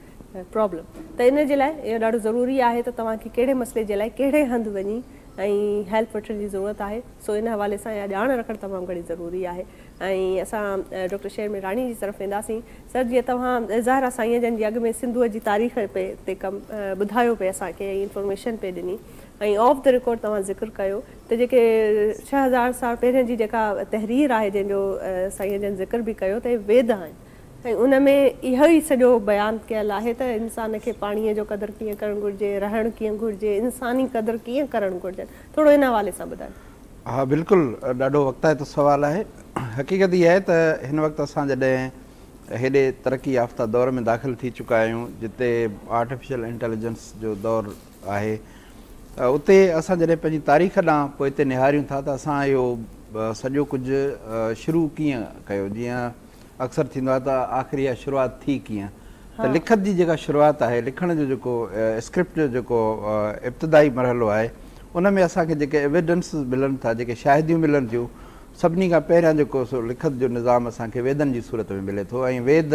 problem ته ان جي لاء اهو ڏاڍو ضروري آهي ته توهان کي ڪهڙي مسئلي جي لاء ڪهڙي هنڌ وڃي ۽ هيلپ وٺڻ جي ضرورت آهي سو ان حوالي سان اها ڄاڻ رکڻ تمام گهڻي ضروري آهي. ۽ اسان ڊاڪٽر شير مير راڻي جي طرف وينداسين. سر جيئن توهان ظاهر آ سائين جن جي اڳ ۾ سنڌوء جي تاريخ پي تي ڪم ٻڌايو پي اسان کي ۽ انفارميشن پي ڏني ۽ آف دي رڪارڊ توهان ذڪر ڪيو ته جيڪي ڇهه هزار سال پهرين جي جيڪا تحرير آهي جنهن جو سائين جن ذڪر به ڪيو ته ويد آهن ۽ ان ۾ اهو ئي سڄو بيان ڪيل آهي ته انسان کي پاڻيء جو قدر ڪيئن ڪرڻ گهرجي رهڻ ڪيئن گهرجي انساني قدر ڪيئن ڪرڻ گهرجن ٿورو ان حوالي سان ٻڌايو. ها بلڪل ڏاڍو وقتائتو سوال آهي. حقيقت اها آهي ته هن وقت اسان جڏهن هيڏي ترقي يافته دور ۾ داخل ٿي چڪا آهيون جتي آرٽيفيشل انٽيليجنس جو دور آهي ته اتي اسان جڏهن پنهنجي تاريخ ڏانهن پوئتي نهاريون ٿا ته اسان اهو سڄو ڪجهه شروع ڪيئن ڪيو جيئن اڪثر ٿيندو آهي ته آخر اها شروعات ٿي ڪيئن؟ ته لکت جي جيڪا شروعات آهي، لکڻ جو جيڪو اسڪرپٽ جو جيڪو ابتدائي مرحلو آهي، ان ۾ اسان کي جيڪي ايويڊنسز ملن ٿا، جيڪي شاهديون ملن ٿيون، سڀني کان پهريان جيڪو سو لکت جو نظام اسان کي ويدن جي صورت ۾ ملي ٿو ۽ ويد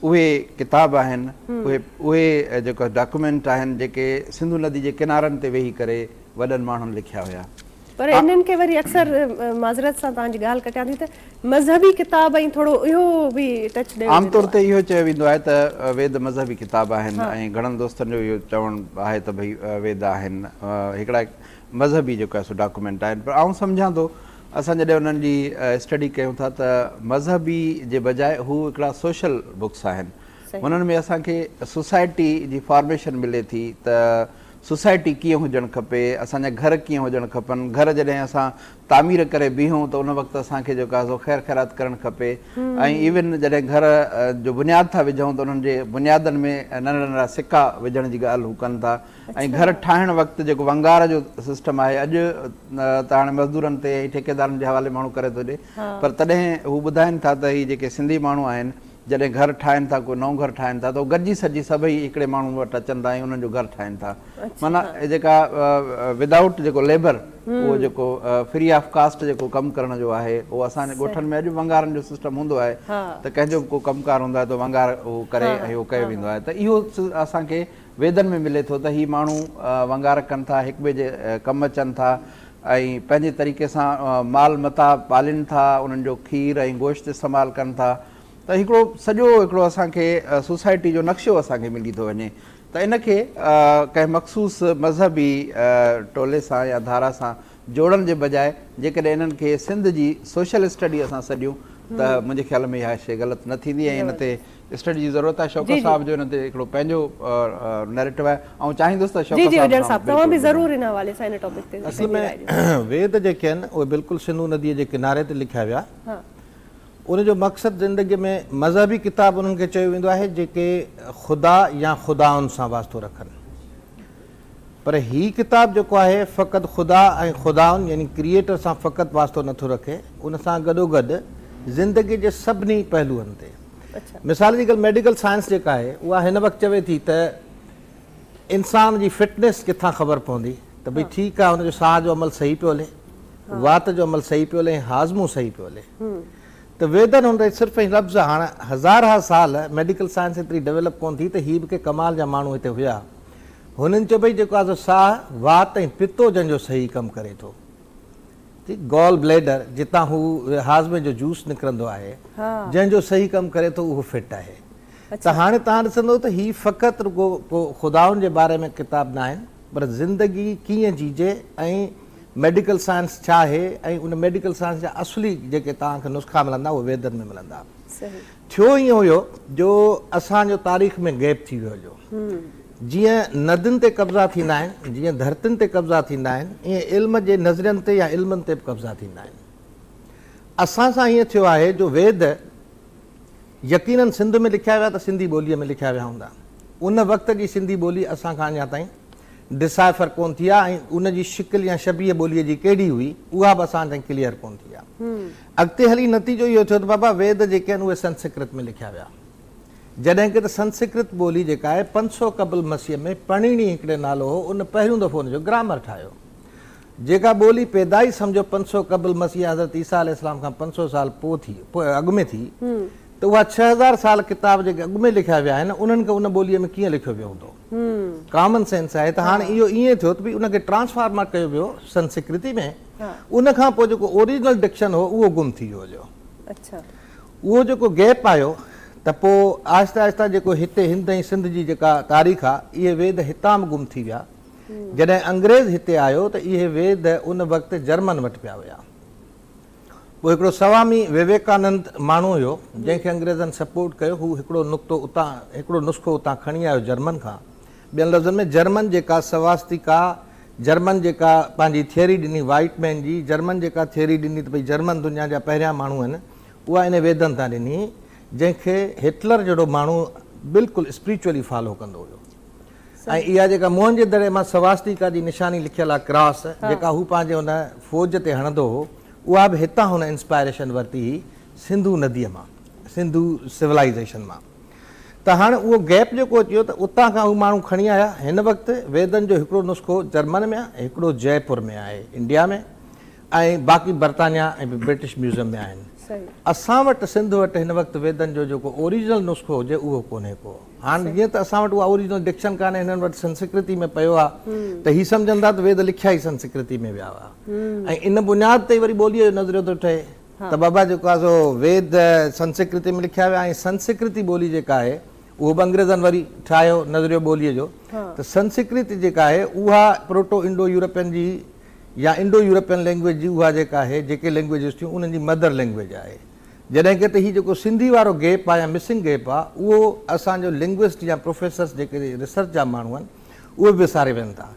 اهي ڪتاب آهن، اهي اهي جيڪا ڊاڪيومينٽ آهن، جيڪي سنڌو ندي جي ڪنارن تي ويهي ڪري وڏن ماڻهن لکيا هيا. پر انهن کي وري اڪثر معذرت سان توهان جي ڳالهه ڪٽيان ٿي ته مذهبي ڪتاب ۽ ٿورو اهو به ٽچ ڏيو ويندو آهي. عام طور تي اهو چيو ويندو آهي ته ويد مذهبي ڪتاب آهن ۽ گهڻن دوستن جو اهو چوڻ آهي ته ڀئي ويد آهن هڪڙا مذهبي جيڪو آهي سو ڊاڪومينٽ آهن پر آئون سمجهان ٿو اسان جڏهن انهن جي اسٽڊي ڪيون ٿا ته مذهبي جي بجاء هو هڪڙا سوشل بڪس آهن هنن ۾ اسان کي سوسائٽي جي فارميشن ملي ٿي ته سوسائٽي ڪيئن هجڻ کپي، اسان جا گهر ڪيئن هجڻ کپن، گهر جڏهن اسان تعمير ڪري بيهون ته ان وقت اسان کي جيڪو آهي سو خير خيرات ڪرڻ کپي ۽ ايون جڏهن گهر جو بنياد ٿا وجهون ته انهن جي بنيادن ۾ ننڍڙا ننڍڙا سڪا وجهڻ جي ڳالهه هو ڪن ٿا ۽ گهر ٺاهڻ وقت جيڪو ونگار جو سسٽم آهي اڄ ته هاڻي مزدورن تي ٺيڪيدارن جي حوالي ماڻهو ڪري ٿو ڏي پر تڏهن هو ٻڌائين ٿا ته هي جيڪي سنڌي ماڻهو آهن جڏهن گهر ٺاهين ٿا ڪو نئون گهر ٺاهين ٿا ته هو گڏجي سڏجي سڀئي هڪڙي ماڻهو وٽ اچن ٿا ۽ انهن جو گهر ٺاهين ٿا معنيٰ هي جيڪا ودائوٽ جيڪو ليبر اهو جيڪو فري آف ڪاسٽ جيڪو ڪم ڪرڻ جو آهي اهو اسان جي ڳوٺن ۾ اڄ به ونگارن جو سسٽم هوندو آهي ته ڪنهن جو به ڪو ڪم ڪار هوندو آهي ته ونگار اهو ڪري ۽ اهو ڪيو ويندو آهي ته اهو اسان کي ويدن ۾ ملي ٿو ته هي ماڻهو ونگار ڪن ٿا، هڪٻئي جي ڪم اچن ٿا ۽ پنهنجي طريقي سان مال متاع پالين ٿا، انهن جو کير ۽ گوشت استعمال ڪن ٿا ته هڪڙو سڄو هڪڙو اسان کي سوسائٽي جو نقشو اسان کي ملي ٿو وڃي ته ان کي ڪنهن مخصوص مذهبي ٽولي سان يا ڌارا سان جوڙڻ جي بجاء جيڪڏهن انهن کي سنڌ جي سوشل اسٽڊي اسان سڏيون ته منهنجي خيال ۾ اها شيء غلط نه ٿيندي ۽ ان تي اسٽڊي جي ضرورت آهي شوڪت صاحب جو ان تي هڪڙو پنهنجو نيريٽو آهي آئون چاهيندس ته شوڪت صاحب توهان به ضرور ان حوالي سان ان ٽاپڪ تي اصل ۾ ويد جيڪي آهن اهي بلڪل سنڌو ندي جي ڪناري تي لکيا ويا ان جو مقصد زندگي ۾ مذهبي ڪتاب انهن کي چيو ويندو آهي جيڪي خدا يا خدائن سان واسطو رکن پر هي ڪتاب جيڪو آهي فقط خدا ۽ خداوند يعني ڪريئيٽر سان فقط واسطو نه ٿو رکي ان سان گڏوگڏ زندگي جي سڀني پهلوئن تي مثال جي ڳالهه ميڊيڪل سائنس جيڪا آهي اها هن وقت چوي ٿي ته انسان جي فٽنيس ڪٿان خبر پوندي ته ڀئي ٺيڪ آهي هن جو ساهه جو عمل صحيح پيو هلي وات جو عمل صحيح پيو هلي ۽ هاضمو صحيح پيو هلي ته ويدن هن تي صرف ۽ لفظ هاڻ هزارها سال ميڊيڪل سائنس ايتري ڊيولپ ڪونه ٿي ته هي به ڪي ڪمال جا ماڻهو هتي هيا هونئن چئبو آهي جيڪو آزو ساهه، وات ۽ پتو جن جو صحيح ڪم ڪري ٿو. گال بليڊر جتان هو هاضمي جو جوس نڪرندو آهي جنهن جو صحيح ڪم ڪري ٿو اهو فٽ آهي. ته هاڻي توهان ڏسندو ته هي فقط رڳو ڪو خدائن جي باري ۾ ڪتاب ناهن پر زندگي ڪيئن جيجي ۽ ميڊيڪل سائنس ڇا آهي ۽ ان ميڊيڪل سائنس جا اصلي جيڪي توهان کي نسخا ملندا اهي ويدن ۾ ملندا. ٿيو ائين هيو جو اسان جو تاريخ ۾ گيپ ٿي ويو هيو. جيئن ندين تي قبضا ٿيندا آهن، جيئن ڌرتين تي قبضا ٿيندا آهن، ائين علم جي نظرين تي يا علمن تي به قبضا ٿيندا آهن. اسان سان ائين ٿيو آهي جو ويد يقينن سنڌ ۾ لکيا ويا ته سنڌي ٻوليء ۾ لکيا ويا هوندا. ان وقت جي سنڌي ٻولي اسان کان اڃا تائين ڊسائفر ڪونه ٿي آهي ۽ ان جي شڪل يا شبيهه ٻوليء جي ڪهڙي هئي، اها به اسان تائين ڪليئر ڪونه ٿي آهي. اڳتي هلي نتيجو اهو ٿيو ته بابا ويد جيڪي آهن اهي سنسڪرت ۾ لکيا ويا. جڏهن ڪه ته سنسڪرت ٻولي جيڪا آهي پنج سؤ قبل مسيح ۾ پڻيڻي هڪڙي نالو هو ان پهريون دفعو ان جو گرامر ٺاهيو. جيڪا ٻولي پيدا ئي سمجهو پنج سؤ قبل مسيح يا حضرت عيسيٰ عليه السلام کان پنج سؤ سال پوء ٿي اڳ ۾ ٿي ته اها ڇهه هزار سال ڪتاب جيڪي اڳ ۾ لکيا ويا آهن انهن کي ان ٻوليء ۾ ڪيئن لکيو ويو هوندو. ڪامن سينس آهي ته هاڻ اهو ائين ٿيو ته ڀئي ان کي ٽرانسفارمر ڪيو ويو سنسڪرتي ۾ ان کان پوء جيڪو اوريجنل ڊڪشن هو اهو گم ٿي ويو هليو اهو جيڪو گيپ آيو ته پوء آهستي آهستي جيڪو هتي هند ۽ سنڌ جي جيڪا تاريخ آهي اهي ويد هتان به گم ٿي ويا جڏهن انگريز هتي آيو ته اهي ويد ان وقت جرمن وٽ پيا ويا هو هڪڙو سوامي ويويڪانند ماڻهو هيو، جنهن کي انگريزن سپورٽ ڪيو. هو هڪڙو نقطو اتان، هڪڙو نسخو اتان کڻي آيو جرمن کان. ٻين لفظن ۾ جرمن جيڪا سواستيڪا، جرمن جيڪا پنهنجي ٿيوري ڏني وائيٽ مين جي، جرمن جيڪا ٿيوري ڏني ته ڀئي جرمن دنيا جا پهريان ماڻهو آهن، اها انهي ويدن تان ڏني، جنهن کي هٽلر جهڙو ماڻهو بلڪل اسپريچولي فالو ڪندو هيو. ۽ اها جيڪا موهن جي دڙي مان سواسٽيڪا جي نشاني لکيل آ ڪراس جيڪا هو پنهنجي ان فوج تي هڻندو هو اها به هتان هن انسپائريشن ورتي هئي سنڌو نديء مان سنڌو سولائيزيشن مان ته هاڻ اهو گيپ جيڪو اچي ويو ته اتان کان هو ماڻهو کڻي آيا هن وقت ويدن جو هڪڙو نسخو جرمن ۾ آهي هڪڙو جئي پور ۾ آهي انڊيا ۾ ۽ باقي برطانيا ۽ برٽش ميوزم ۾ آهن اسان وٽ سنڌ وٽ هن وقت ويدن جو جيڪو اوريجنل نسخو هجي اهو ڪونهي ڪو هاڻ جيئن ته اسان وٽ اها اوريجنل ڊڪشن ڪانهي، هنن وٽ سنسڪرتي ۾ پيو آهي، ته هي سمجهن ٿا ته ويد لکيا ئي سنسڪرتي ۾ ويا هئا. ۽ ان بنياد تي ئي وري ٻوليء جو نظريو ٿو ٺهي، ته بابا جيڪو آهي سو ويد سنسڪرتي ۾ لکيا ويا ۽ سنسڪرتي ٻولي جيڪا آهي، اهو به انگريزن وري ٺاهيو نظريو ٻوليء جو، ته سنسڪرتي جيڪا آهي، اها پروٽو انڊو يورپين جي يا انڊو يورپين لئنگويج جي اها جيڪا آهي، جيڪي لئنگويجز ٿيون، انهن جي مدر لئنگويج آهي. جڏهن ڪه ته هي جيڪو سنڌي وارو گيپ آ يا مسنگ گيپ آ اهو اسان جو لنگوسٽ يا پروفيسرس جيڪي ريسرچ جا ماڻهو آهن اهي به وساري ويهن ٿا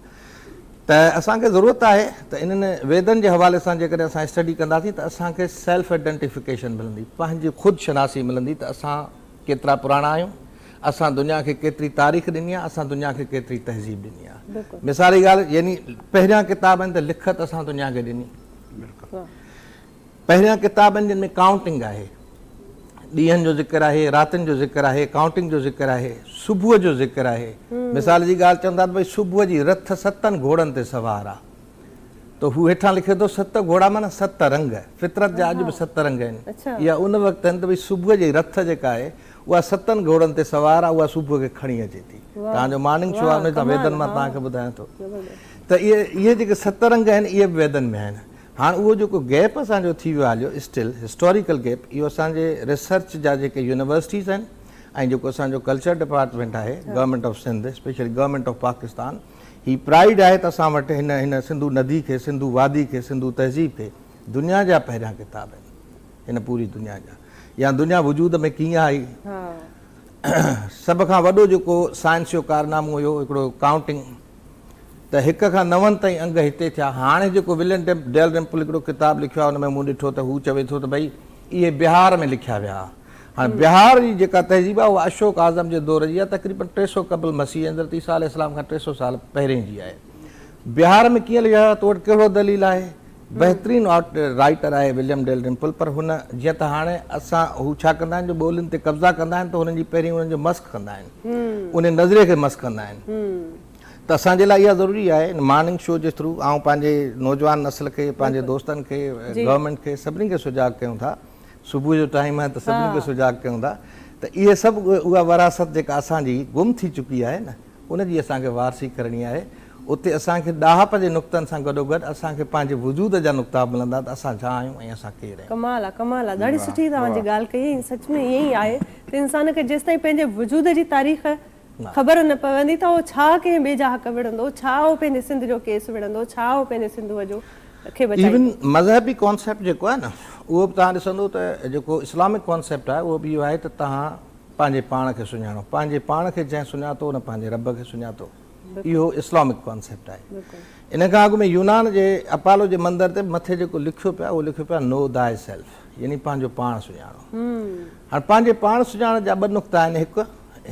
ته اسان کي ضرورت آهي ته انهن ويدن جي حوالي سان جيڪڏهن اسان اسٽڊي ڪنداسين ته اسان کي سيلف اڊنٽيفڪيشن ملندي پنهنجي خود شناسي ملندي ته اسان ڪيترا پراڻا آهيون اسان دنيا کي ڪيتري تاريخ ڏني آ اسان دنيا کي ڪيتري تهذيب ڏني آ مثالي ڳالهه يعني پهريان ڪتاب آهن ته لکت اسان دنيا کي ڏني پهريان ڪتاب آهن جن ۾ ڪائونٽنگ آهي، ڏينهن جو ذڪر آهي، راتين جو ذڪر آهي، ڪائونٽنگ جو ذڪر آهي، صبح جو ذڪر آهي. مثال جي ڳالهه چون ٿا ته ڀئي صبح جي رٿ ستن گهوڙن تي سوار آ ته هو هيٺان لکي ٿو ست گهوڙا معنيٰ ست رنگ، فطرت جا اڄ به ست رنگ آهن. اها ان وقت آهن ته ڀئي صبح جي رٿ جيڪا آهي اها ستن گهوڙن تي سوار آ اها صبح کي کڻي اچي ٿي. توهان جو مارننگ شو آهي ان جي ويدن مان توهان کي ٻڌايان ٿو ته اهي جيڪي ست رنگ آهن اهي به ويدن ۾ آهن. هاڻ اهو جيڪو گيپ اسان جو ٿي ويو آهي هليو اسٽل هسٽوريڪل گيپ اهو اسان جي ريسرچ جا جيڪي يونيورسٽيز آهن ۽ جيڪو اسان جو ڪلچر ڊپارٽمينٽ آهي government of Sindh especially government of Pakistan هي پرائڊ آهي ته اسان وٽ هن هن سنڌو ندي کي سنڌو وادي کي سنڌو تهذيب کي دنيا جا پهريان ڪتاب آهن هن پوري دنيا جا يا دنيا وجود ۾ ڪيئن آئي سڀ کان وڏو جيڪو سائنس جو ڪارنامو هيو هڪڙو ڪائونٽنگ ته هڪ کان نون تائين انگ هتي ٿيا. هاڻي جيڪو ولين ڊيلرمپل هڪڙو ڪتاب لکيو آهي ان ۾ مون ڏٺو ته هو چوي ٿو ته ڀئي اهي بهار ۾ لکيا ويا ها. هاڻي بهار جي جيڪا تهذيب آهي اها اشوڪ اعظم جي دور جي آهي تقريبن ٽي سؤ قبل مسيح ۽ حضرت عيسيٰ عليه السلام کان ٽي سؤ سال پهرين جي آهي. بهار ۾ ڪيئن لکيا ويا تو وٽ ڪهڙو دليل آهي؟ بهترين رائيٽر آهي وليم ڊيل رمپل پر هن جيئن ته هاڻي اسان هو ڇا ڪندا آهن جو ٻولين تي قبضا ڪندا آهن ته هنن جي پهرين انهن جو مسخ ڪندا آهن انهي نظريي کي مسخ ڪندا آهن ته اسان جي لاء اها ضروري آهي مارننگ شو جي ٿرو آئون پنهنجي نوجوان نسل کي پنهنجي دوستن کي گورنمينٽ کي سڀني کي سجاڳ ڪيون ٿا صبح جو ٽائيم آهي ته سڀني کي سجاڳ ڪيون ٿا ته اهي سڀ اها وراثت جيڪا اسان جي گم ٿي چڪي آهي نه ان جي اسان کي وارثي ڪرڻي آهي. اتي اسان کي ڏاهپ جي نقطن سان گڏوگڏ اسان کي پنهنجي وجود جا نقطا به ملندا ته اسان ڇا آهيون ۽ اسان ڪير آهيون. ڪمال آ ڪمال آ ڏاڍي سٺي توهان جي ڳالهه ڪئي ۽ سچ ۾ ائين ئي آهي ته انسان کي جيستائين پنهنجي وجود جي تاريخ خبر نه پوندي ته هو ڇا ڪنهن ٻئي جا حق وڙهندو ڇا هو پنهنجي سنڌ جو ڪيس وڙهندو ڇا هو پنهنجي سنڌوء جو کي بچائيندو. ايون مذهبي ڪانسيپٽ جيڪو آهي نه اهو به توهان ڏسندو ته جيڪو اسلامڪ ڪانسيپٽ آهي اهو به اهو آهي ته توهان پنهنجي پاڻ کي سڃاڻو. پنهنجي پاڻ کي جنهن سڃاتو ان پنهنجي رب کي سڃاتو. اهو اسلامڪ ڪانسيپٽ آهي. ان کان اڳ ۾ يونان جي اپالو جي مندر تي مٿي جيڪو لکيو پيو آهي اهو لکيو پيو آهي Know Thyself يعني پنهنجو پاڻ سڃاڻو. هاڻ پنهنجي پاڻ سڃاڻڻ جا ٻه نقطا آهن هڪ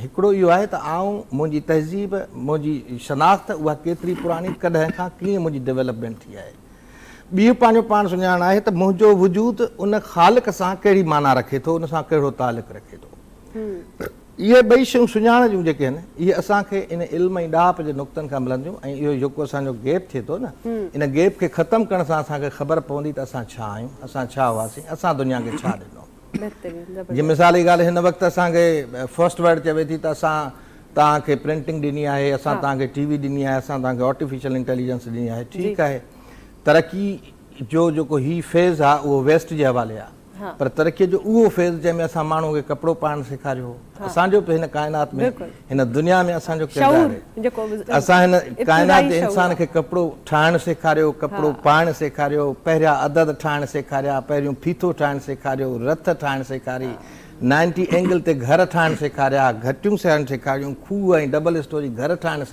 هڪڙو اهو آهي ته آئون، منهنجي تهذيب، منهنجي شناخت اها ڪيتري پراڻي ڪڏهن کان ڪيئن منهنجي ڊيولپمينٽ ٿي آهي. ٻيو پنهنجو پاڻ سڃاڻڻ آهي ته منهنجو وجود ان خالق سان ڪهڙي معنيٰ رکي ٿو، ان سان ڪهڙو تعلق رکي ٿو. اهي ٻئي شيون سڃاڻڻ جون جيڪي آهن، اهي اسان کي ان علم ۽ ڏاهپ جي نقطن کان ملن ٿيون ۽ اهو جيڪو اسان جو گيپ ٿئي ٿو نه، ان گيپ کي ختم ڪرڻ سان اسان کي خبر پوندي ته اسان ڇا آهيون، اسان ڇا هئاسين، اسان دنيا کي ڇا ڏنو. جي مثال جي ڳالهه هن وقت اسان کي فرسٽ ورلڊ چوي ٿي ته اسان توهان کي پرنٽنگ ڏني آهي اسان توهان کي ٽي وي ڏني آهي اسان توهان کي آرٽيفيشل انٽيليجنس ڏني آهي ٺيڪ آهي ترقي جو جيڪو هي فيز آهي اهو ويسٽ جي حوالي آهي پر ترقي جو اهو فيز جنهن ۾ اسان ماڻهو کي ڪپڙو پائڻ سيکاريو اسان جو به هن ڪائنات ۾ هن دنيا ۾ اسان جو ڪردار آهي اسان هن ڪائنات جي انسان کي ڪپڙو ٺاهڻ سيکاريو ڪپڙو پائڻ سيکاريو پهريا عدد ٺاهڻ سيکاريا پهريون ڦيٿو ٺاهڻ سيکاريو رٿ ٺاهڻ سيکاري نائنٽي اينگل تي گهر ٺاهڻ سيکاريا گهٽيون سيارڻ سيکاريون کوهه ۽ ڊبل اسٽوري گهر ٺاهڻ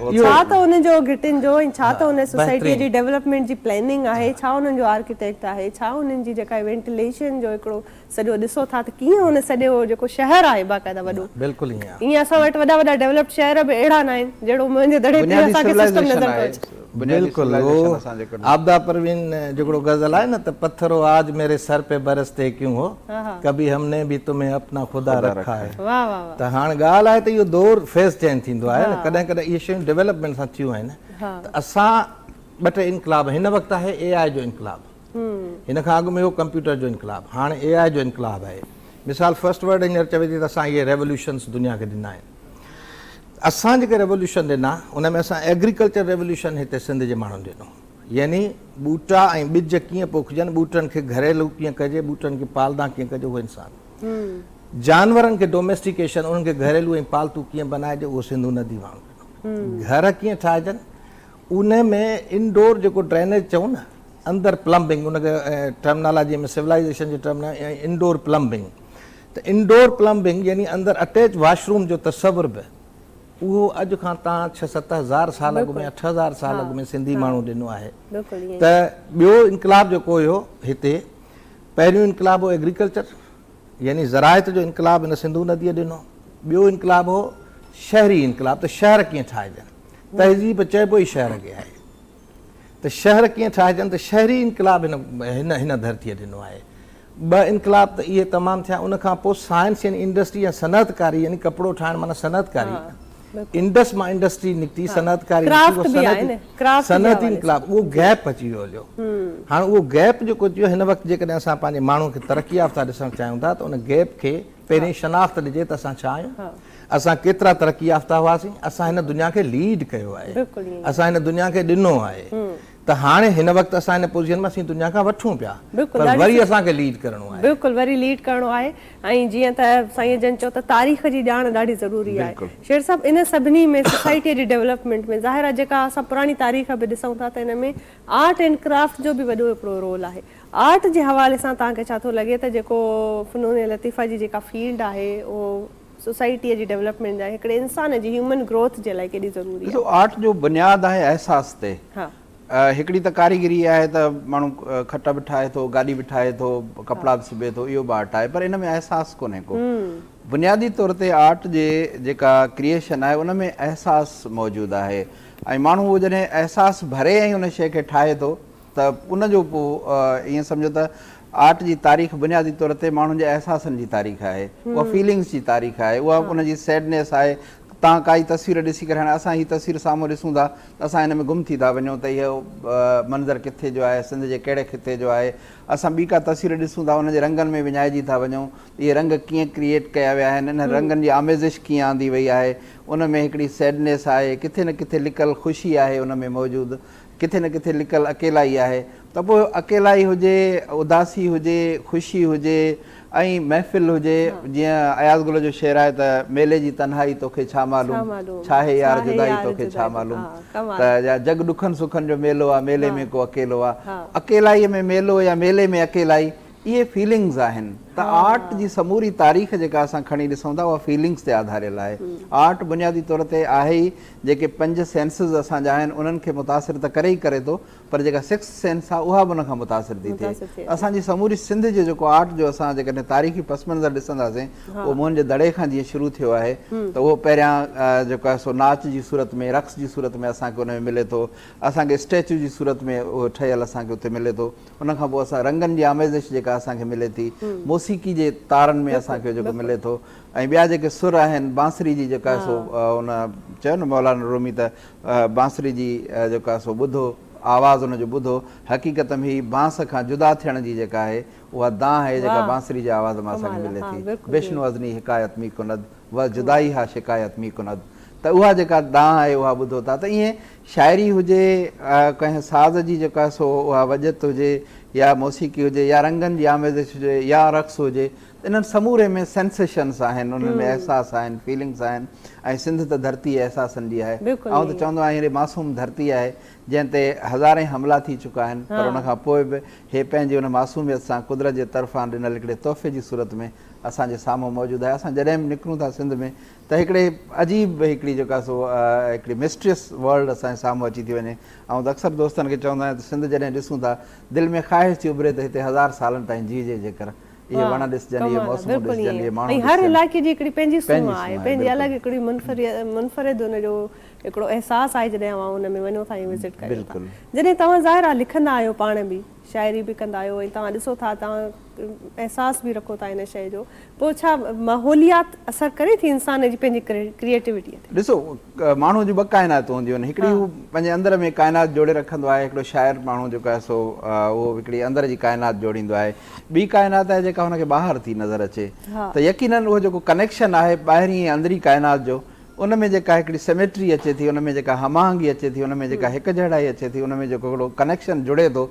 ڇا ته ان جو گهٽين جو ۽ ڇا ته ان سوسائٽيء جي ڊيولپمينٽ جي پلاننگ آهي، ڇا انهن جو آرڪيٽيڪٽ آهي، ڇا انهن جي جيڪا وينٽيليشن جو هڪڙو سڄو ڏسو ٿا ته ڪيئن ان سڄو جيڪو شهر آهي باقاعده وڏو، ائين اسان وٽ وڏا وڏا ڊيولپڊ شهر به اهڙا نه آهن جهڙو منهنجي دڙي تي اسان کي سسٽم نظر ٿو اچي. بلڪل اهو عابده پروين جهڙو غزل آهي نه ته پٿر هو آج ميري سر پي برستے ڪيون هو، ڪڀي ھم ني ڀي تمھين اپنا خدا رکا ھي ته ھاڻ ڳالھ آھي ته اھو دور فيز چينج ٿيندو آھي نه ڪڏھن ڪڏھن اھي شيون ڊولپمينٽ سان ٿيون آھن ته اسان ٻه ٽي انقلاب ھن وقت آھي اي آئي جو انقلاب ھن کان اڳ ۾ ھو ڪمپيوٽر جو انقلاب ھاڻ اي آئي جو انقلاب آھي مثال فرسٽ ورلڊ ھينئر چوي ٿي ته اسان اھي ريولوشنس دنيا کي ڏنا آھن اسان جيڪي ريولوشن ڏنا ان ۾ اسان ايگريڪلچر ريولوشن ھتي سنڌ جي ماڻھن ڏنو يعني ٻوٽا ۽ ٻج ڪيئن پوکجن، ٻوٽن کي گهريلو ڪيئن ڪجي، ٻوٽن کي پالدان ڪيئن ڪجي اهو انسان. جانورن کي ڊوميسٽيڪيشن، انهن کي گهريلو ۽ پالتو ڪيئن بنائجي اهو سنڌو ندي واهڻ ڪندو. گهر ڪيئن ٺاهجن، ان ۾ انڊور جيڪو ڊرينيج چئون نه، اندر پلمبنگ، ان کي ٽرمنالاجي ۾ سولائيزيشن جي ٽرم ۾ انڊور پلمبنگ. ته انڊور پلمبنگ يعني اندر اٽيچ واشروم جو تصور به اهو اڄ کان تان ڇهه ست هزار سال اڳ ۾ يا ٺھ هزار سال اڳ ۾ سنڌي ماڻهو ڏنو آهي ته ٻيو انقلاب جيڪو هيو هتي پهريون انقلاب هو ايگريڪلچر يعني زراعت جو انقلاب هن سنڌو نديء ڏنو ٻيو انقلاب هو شهري انقلاب ته شهر ڪيئن ٺاهجن تهذيب چئبو ئي شهر کي آهي ته شهر ڪيئن ٺاهجن ته شهري انقلاب هن هن ڌرتيء ڏنو آهي. ٻه انقلاب ته اهي تمام ٿيا ان کان پوء سائنس يعني انڊسٽري يا صنعت ڪاري يعني ڪپڙو ٺاهڻ معنيٰ صنعت ڪاري انڊس مان انڊسٽري نڪتي صنعت ڪاري نڪتي صنعتي انقلاب اهو گيپ اچي ويو هليو هاڻ اهو گيپ جيڪو اچي ويو هن وقت جيڪڏهن اسان پنهنجي ماڻهو کي ترقي يافته ڏسڻ چاهيون ٿا ته ان گيپ کي پهرين شناخت ڏجي ته اسان ڇا آهيون؟ اسان ڪيترا ترقي يافته هئاسين؟ اسان هن دنيا کي ليڊ ڪيو آهي. اسان هن دنيا کي ڏنو آهي. ته هاڻي هن وقت اسان هن پوزيشن ۾ اسين دنيا کان وٺون پيا. پر وري اسان کي ليڊ ڪرڻو آهي. بلڪل وري ليڊ ڪرڻو آهي. ۽ جيئن ته سائين جن چيو ته تاريخ جي ڄاڻ ڏاڍي ضروري آهي. شير صاحب ان سڀني ۾ سوسائٽي جي ڊيولپمينٽ ۾ ظاهر آهي جيڪا اسان پراڻي تاريخ به ڏسون ٿا ته ان ۾ آرٽ اينڊ ڪرافٽ جو به وڏو هڪڙو رول آهي. آرٽ جي حوالي سان توهان کي ڇا ٿو لڳي ته جيڪو فنون لطيفه جي جيڪا فيلڊ آهي اهو سوسائٽيء جي ڊيولپمينٽ جا هڪڙي انسان جي هيومن گروٿ جي لاء ڪيڏي ضروري آهي؟ ڏسو آرٽ جو بنياد آهي احساس تي هڪڙي ته ڪاريگري آهي ته ماڻهو کٽ به ٺاهي ٿو گاڏي به ٺاهي ٿو ڪپڙا به سبي ٿو اهو به آرٽ آهي پر ان ۾ احساس ڪونهي ڪو بنيادي طور تي آرٽ جي جيڪا ڪريئشن آهي ان ۾ احساس موجود آهي ۽ ماڻهو جڏهن احساس ڀري ۽ ان شيء کي ٺاهي ٿو ته ان جو پوء ائين سمجهو ته آرٽ جي تاريخ بنيادي طور تي ماڻهن جي احساسن جي تاريخ آهي، اها فيلنگس جي تاريخ آهي، اها ان جي سيڊنيس آهي. تان ڪائي تصوير ڏسي ڪري هاڻي اسان هي تصوير سامهون ڏسون ٿا ته اسان ان ۾ گم ٿي ٿا وڃون ته اهو منظر ڪٿي جو آهي، سنڌ جي ڪهڙي خطي جو آهي. اسان ٻي ڪا تصوير ڏسون ٿا ان جي رنگن ۾ وڃائجي ٿا وڃون ته اهي رنگ ڪيئن ڪريئيٽ ڪيا ويا آهن، انهن رنگن جي آميزش ڪيئن آندي وئي آهي، ان ۾ هڪڙي سيڊنيس آهي، ڪٿي نه ڪٿي لڪل خوشي آهي ان ۾ موجود. ڪٿي نه ڪٿي لڪل اڪيلائي آهي ته پوء اڪيلائي هجي، اداسي هجي، خوشي هجي ۽ محفل هجي جيئن اياز گل جو شعر آهي ته ميلي جي تنهائي توکي ڇا معلوم ڇاهي يار جدائي توکي ڇا معلوم ته يا جڳ ڏکن سکن جو ميلو آ ميلي ۾ ڪو اڪيلو آ اڪيلائي ۾ ميلو يا ميلي ۾ اڪيلائي اهي فيلنگز آهن ته آرٽ جي سموري تاريخ جيڪا اسان کڻي ڏسون ٿا اها فيلنگز تي آڌاريل آهي. آرٽ بنيادي طور تي آهي ئي جيڪي پنج سينسز اسان جا آهن انهن کي متاثر ته ڪري ئي ڪري ٿو پر جيڪا سڪسٿ سينس آهي اها به ان کان متاثر ٿي ٿئي. اسان جي سموري سنڌ جو جيڪو آرٽ جو اسان جيڪڏهن تاريخي پس منظر ڏسنداسين اهو موهن جي دڙي کان جيئن شروع ٿيو آهي ته اهو پهريان جيڪو آهي سو ناچ جي صورت ۾ رقص جي صورت ۾ اسان کي ان ۾ ملي ٿو. اسان کي اسٽيچو جي صورت ۾ اهو ٺهيل اسان کي اتي ملي ٿو. ان کان پوء اسان رنگن جي آميزش جيڪا اسان کي ملي ٿي، موسيقي جي تارن ۾ اسان کي جيڪو ملي ٿو ۽ ٻيا جيڪي سر آهن بانسري جي جيڪا سو ان چيو نه مولانا رومي ته بانسري جي جيڪا سو ٻڌو آواز ان جو ٻڌو حقيقت ۾ هي بانس کان جدا ٿيڻ جي جيڪا آهي اها دانهن آهي جيڪا بانسري جي آواز مان اسان کي ملي ٿي بشنو از ني حڪايت مي ڪند و جدائي ها شڪايت مي ڪند ته اها جيڪا دانهن آهي اها ٻڌو ٿا ته ائين شاعري هجي، ڪنهن ساز جي جيڪا سو اها وڄت هجي يا موسيقي هجي يا رنگن جي آميزش هجي يا رقص هجي انهن سموري ۾ Sensations آهن، انهن ۾ احساس آهن، Feelings آهن ۽ سنڌ ته ڌرتي احساسن جي آهي. آئون ته چوندو آهيان هي معصوم ڌرتي آهي جنهن تي هزارين حملا ٿي چڪا آهن پر ان کان پوء به هي پنهنجي ان معصوميت سان قدرت جي طرفان ڏنل هڪڙي تحفي جي صورت ۾ اسان جي سامهون موجود آهي. اسان جڏهن به نڪرون ٿا سنڌ ۾ ته هڪڙي عجيب هڪڙي جيڪا سو هڪڙي مسٽريس ورلڊ اسان جي سامهون اچي ٿي وڃي. آئون ته اڪثر دوستن کي چوندو آهيان ته سنڌ جڏهن ڏسون ٿا، دل ۾ خواهش ٿي اڀري ته هتي هزار سالن تائين جيئجي جيڪر اهي وڻ ڏسجن، اهي موسمون ڏسجن، اهي ماڻهو ڏسجن. هر علائقي جي هڪڙي پنهنجي سونهن آهي، پنهنجي الڳ هڪڙي منفرد ان جو هڪڙو احساس آهي جڏهن اوهان ان ۾ وڃو ٿا ۽ وزٽ ڪريو ٿا. جڏهن توهان ظاهر آهي لکندا آهيو پاڻ به شاعري به ڪندا آهيو ۽ توهان ڏسو ٿا توهان احساس به رکو ٿا ان شيء جو پوء ڇا ماحوليات اثر ڪري ٿي انسان جي پنهنجي ڪريئيٽوٽيء تي؟ ڏسو ماڻهوء جون ٻه ڪائناتون هونديون آهن هڪڙي هو پنهنجي اندر ۾ ڪائنات جوڙي رکندو آهي هڪڙو شاعر ماڻهو جيڪو آهي سو اهو هڪڙي اندر جي ڪائنات جوڙيندو آهي ٻي ڪائنات آهي جيڪا هن کي ٻاهر ٿي نظر اچي ته يقيناً اهو جيڪو ڪنيڪشن آهي ٻاهرين ۽ اندرين ڪائنات جو ان ۾ جيڪا هڪڙي سميٽري اچي ٿي ان ۾ جيڪا هماهنگي اچي ٿي ان ۾ جيڪا هڪجهڙائي اچي ٿي ان ۾ جيڪو هڪڙو ڪنيڪشن جڙي ٿو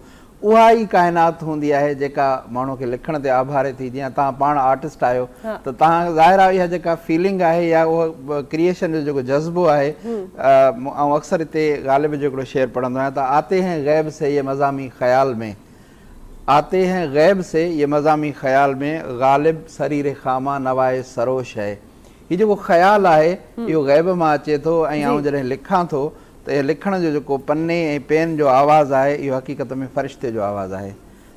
اها ئي ڪائنات هوندي آهي جيڪا ماڻهو کي لکڻ تي آڀاري ٿي جيئن توهان پاڻ آرٽسٽ آهيو ته توهان ظاهر آهي اها جيڪا فيلنگ آهي يا اهو ڪريئيشن جو جيڪو جذبو آهي آئون اڪثر هتي غالب جو هڪڙو شعر پڙهندو آهيان ته آتي هين غيب سي يي مضامي خيال مين آتي هين غيب سي يي مضامي خيال مين غالب سرير خامه نوائي سروش هي هي جيڪو خيال آهي اهو غيب مان اچي ٿو ۽ آئون جڏهن لکان ٿو ته اهي لکڻ جو جيڪو پني ۽ پين جو آواز آهي اهو حقيقت ۾ فرشتي جو آواز آهي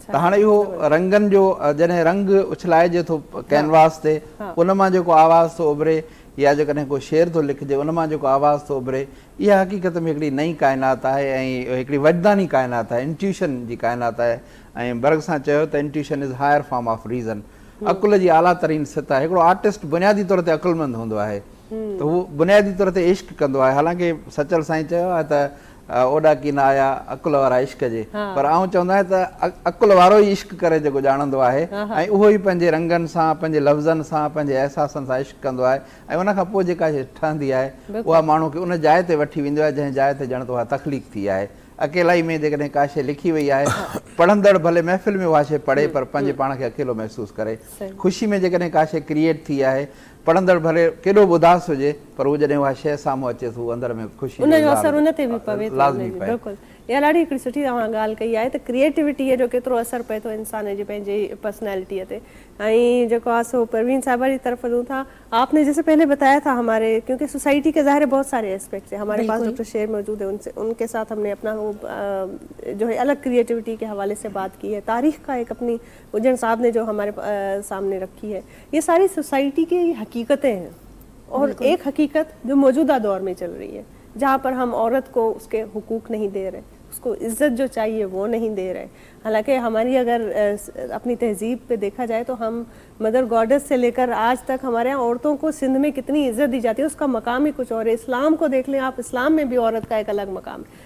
ته هاڻي اهو رنگن جو جڏهن رنگ اڇلائجي ٿو ڪينواس تي ان مان جيڪو آواز ٿو اڀري يا جيڪڏهن ڪو شعر ٿو لکجي ان مان جيڪو آواز ٿو اڀري اها حقيقت ۾ هڪڙي نئين ڪائنات آهي ۽ هڪڙي وجداني ڪائنات آهي انٽيوشن جي ڪائنات آهي ۽ برگ سان چيو ته intuition is higher form of reason عقل جي اعليٰ ترين سطح هڪڙو آرٽسٽ بنيادي طور تي عقلمند هوندو آهي ته هو بنيادي طور تي عشق ڪندو آهي حالانڪه سچل سائين چيو آهي ته اوڏاڪي نه آيا عقل وارا عشق جي پر آئون چوندو آهيان ته عقل وارو ئي عشق ڪري جيڪو ڄاڻندو آهي ۽ اهو ئي پنهنجي رنگن سان پنهنجي لفظن سان پنهنجي احساسن سان عشق ڪندو آهي ۽ ان کان پوء جيڪا شيء ٺهندي آهي اها ماڻهو کي ان جاء تي وٺي ويندي آهي جنهن جاء تي ڄڻ ته اها تخليق ٿي آهي اڪيلائي ۾ جيڪڏهن ڪا شيء لکي وئي آهي پڙهندڙ ڀلي محفل ۾ اها شيء پڙهي پر پنهنجي پاڻ کي اڪيلو محسوس ڪري خوشي ۾ جيڪڏهن ڪا شيء ڪريئيٽ ٿي آهي پڙهندڙ ڀلي ڪيڏو به اداس هجي پر هو جڏهن اها شيء سامهون اچي ٿو اندر ۾ خوشي جو اظهار لازمي پئي. اها ڏاڍي هڪڙي سٺي توهان ڳالهه ڪئي آهي ته ڪريئيٽوٽيء جو ڪيترو اثر پئي ٿو انسان جي پنهنجي پرسنالٽيء تي ۽ جيڪو آ سو پروين صاحبه جي طرف ڏون ٿا آپ ني جيسي پهلي بتايا ٿا هماري ڪيونڪه سوسائٽي ڪي ظاهر هي بهت ساري اسپيڪٽس هي هماري پاس ڊاڪٽر شير موجود هي ان ڪي ساٿ همني اپنا هو جو هي الگ ڪريئيٽوٽي ڪي حوالي سي بات ڪي هي تاريخ ڪا هڪ اپني اجهڻ صاحب ني جو هماري سامني رکي هي يه ساري سوسائٽي ڪي حقيقتين هين اور ايڪ حقيقت جو موجوده دور مي چل رهي هي جها پر هم عورت ڪو اس ڪي حقوق نهي دي رهي اس ڪو عزت جو چاهيي وو نهي دي رهي حالانڪه هماري اگر اپني تهذيب پي ديکها جائي تو هم مدر گاڊس سي لي ڪر آج تڪ هماري يهان عورتون ڪو سنڌ مي ڪتني عزت دي جاتي هي اس ڪا مقام هي ڪچه اور هي اسلام ڪو ديک لين آپ اسلام مي بي عورت ڪا ايڪ الگ مقام هي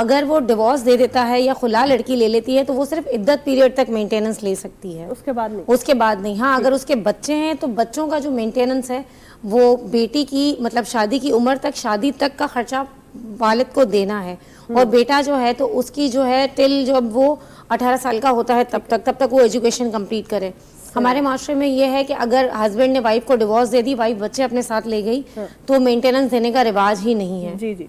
اگر وو ڊوورس دي ديتا هي يا خلا لڙڪي لي ليتي هي تو وو صرف عدت پيريئڊ تڪ مينٽيننس لي سڪتي هي اس کے بعد نهين هان اگر اس کے بچي هين تو بچون کا جو مينٽيننس هي وو بيٽي ڪي مطلب شادي ڪي عمر تڪ شادي تڪ کا خرچا والد کو دينا هي اور بيٽا جو هي تو اس ڪي جو هي ٽل جب وو اٺارهن سال کا هوتا هي تب تڪ تب تڪ وو ايجوڪيشن ڪمپليٽ ڪري هماري معاشري مين يه هي ڪي اگر هسبينڊ ني وائف کو ڊوورس دي دي وائف بچي اپني ساٿ لي گئي تو مينٽيننس ديني کا رواج هي نهين هي.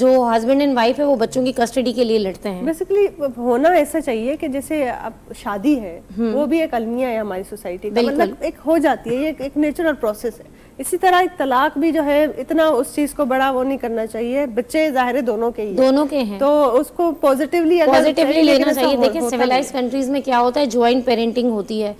جو هسبينڊ اينڊ وائف هي وو بچون ڪي ڪسٽڊي ڪي ليي لڙتي هين. بيسيڪلي هونا ايسا چاهيي ڪي جيسي اب شادي هي وو بهي ايڪ الميا هي هماري سوسائٽي ڪا مطلب ايڪ هو جاتي هي ايڪ ايڪ نيچرل پروسيس هي اسي طرح ايڪ طلاق بهي جو هي اتنا اس چيز ڪو بڙا وو نهي ڪرنا چاهيي بچي ظاهر هي دونو ڪي هي دونو ڪي هين تو اس ڪو پوزيٽيولي اگر پوزيٽيولي لينا چاهيي ديکي سيولائيز ڪنٽريز مين ڪيا هوتا هي جوائنٽ پيرينٽنگ هوتي هي.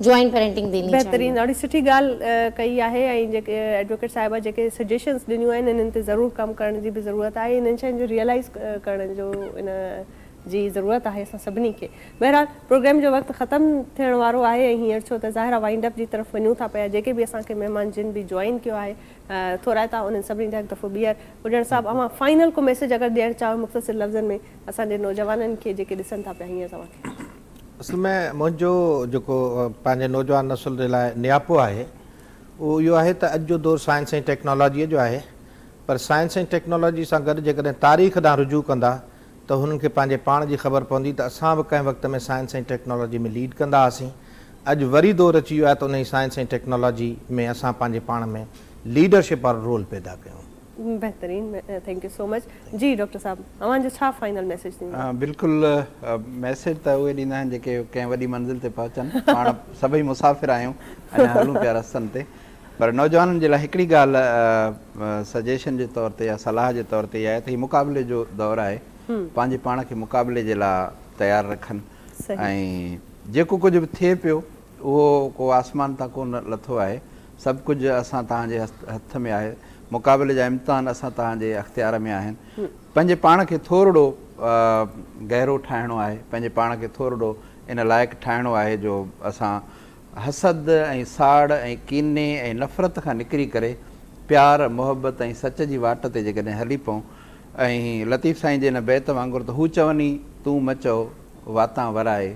جوائنٽ پيرنٽنگ ديني چاھيي. بهترين ڏاڍي سٺي ڳالھ ڪئي آھي ۽ جيڪي ايڊوڪيٽ صاحبه جيڪي سجيشنس ڏنيون آھن انھن تي ضرور ڪم ڪرڻ جي به ضرورت آھي انھن شين جو ريئلائز ڪرڻ جو ان جي ضرورت آھي اسان سڀني کي بهرحال پروگرام جو وقت ختم ٿيڻ وارو آھي ۽ ھينئر ڇو ته ظاھر آھي وائنڊ اپ جي طرف وڃون ٿا پيا جيڪي به اسان کي مھمان جن به جوائن ڪيو آھي ٿورائتا انھن سڀني جا ھڪ دفعو ٻيھر پڄڻ صاحب اوھان فائنل ڪو ميسيج اگر ڏيڻ چاھيو مختصر لفظن ۾ اسان جي نوجوانن کي جيڪي ڏسن ٿا پيا ھينئر توھان کي. اصل ۾ منهنجو جيڪو پنهنجي نوجوان نسل جي لاء نياپو آهي اهو اهو آهي ته اڄ جو دور سائنس ۽ ٽيڪنالاجيء جو آهي پر سائنس ۽ ٽيڪنالاجي سان گڏ جيڪڏهن تاريخ ڏانهن رجوع ڪندا ته هنن کي پنهنجي پاڻ جي خبر پوندي ته اسان به ڪنهن وقت ۾ سائنس ۽ ٽيڪنالاجي ۾ ليڊ ڪندا هئاسين اڄ وري دور اچي ويو آهي ته انهي سائنس ۽ ٽيڪنالاجي ۾ اسان پنهنجي پاڻ ۾ ليڊرشپ وارو رول پيدا ڪيون. بهترين ٿينڪ يو سو مچ جي ڊاڪٽر صاحب اوهان جو ڇا فائنل ميسيج ٿيندو. بلڪل ميسيج ته اهي ڏيندا آهن جيڪي ڪنهن وڏي منزل تي پهچن پاڻ سڀئي مسافر آهيون اڃا هلون پيا رستن تي پر نوجوانن جي لاء هڪڙي ڳالهه سجيشن جي طور تي يا صلاح جي طور تي اها آهي ته هي مقابلي جو دور آهي پنهنجي پاڻ کي مقابلي جي لاء تيار رکن ۽ جيڪو ڪجهه به ٿئي پيو اهو ڪو آسمان تان ڪونه لٿو آهي سڀ ڪجهه اسان توهان جي هٿ ۾ آهي. مقابلي جا امتحان اسان توهان جي اختيار ۾ آهن. پنهنجي پاڻ کي ٿورڙو گهرو ٺاهڻو آهي. پنهنجي پاڻ کي ٿورڙو ان لائق ٺاهڻو آهي جو اسان حسد ۽ ساڙ ۽ ڪيني ۽ نفرت کان نڪري ڪري پيار، محبت ۽ سچ جي واٽ تي جيڪڏهن هلي پئون ۽ لطيف سائين جي ان بيت وانگر ته هو چوني تون مچئو واتان ورائي.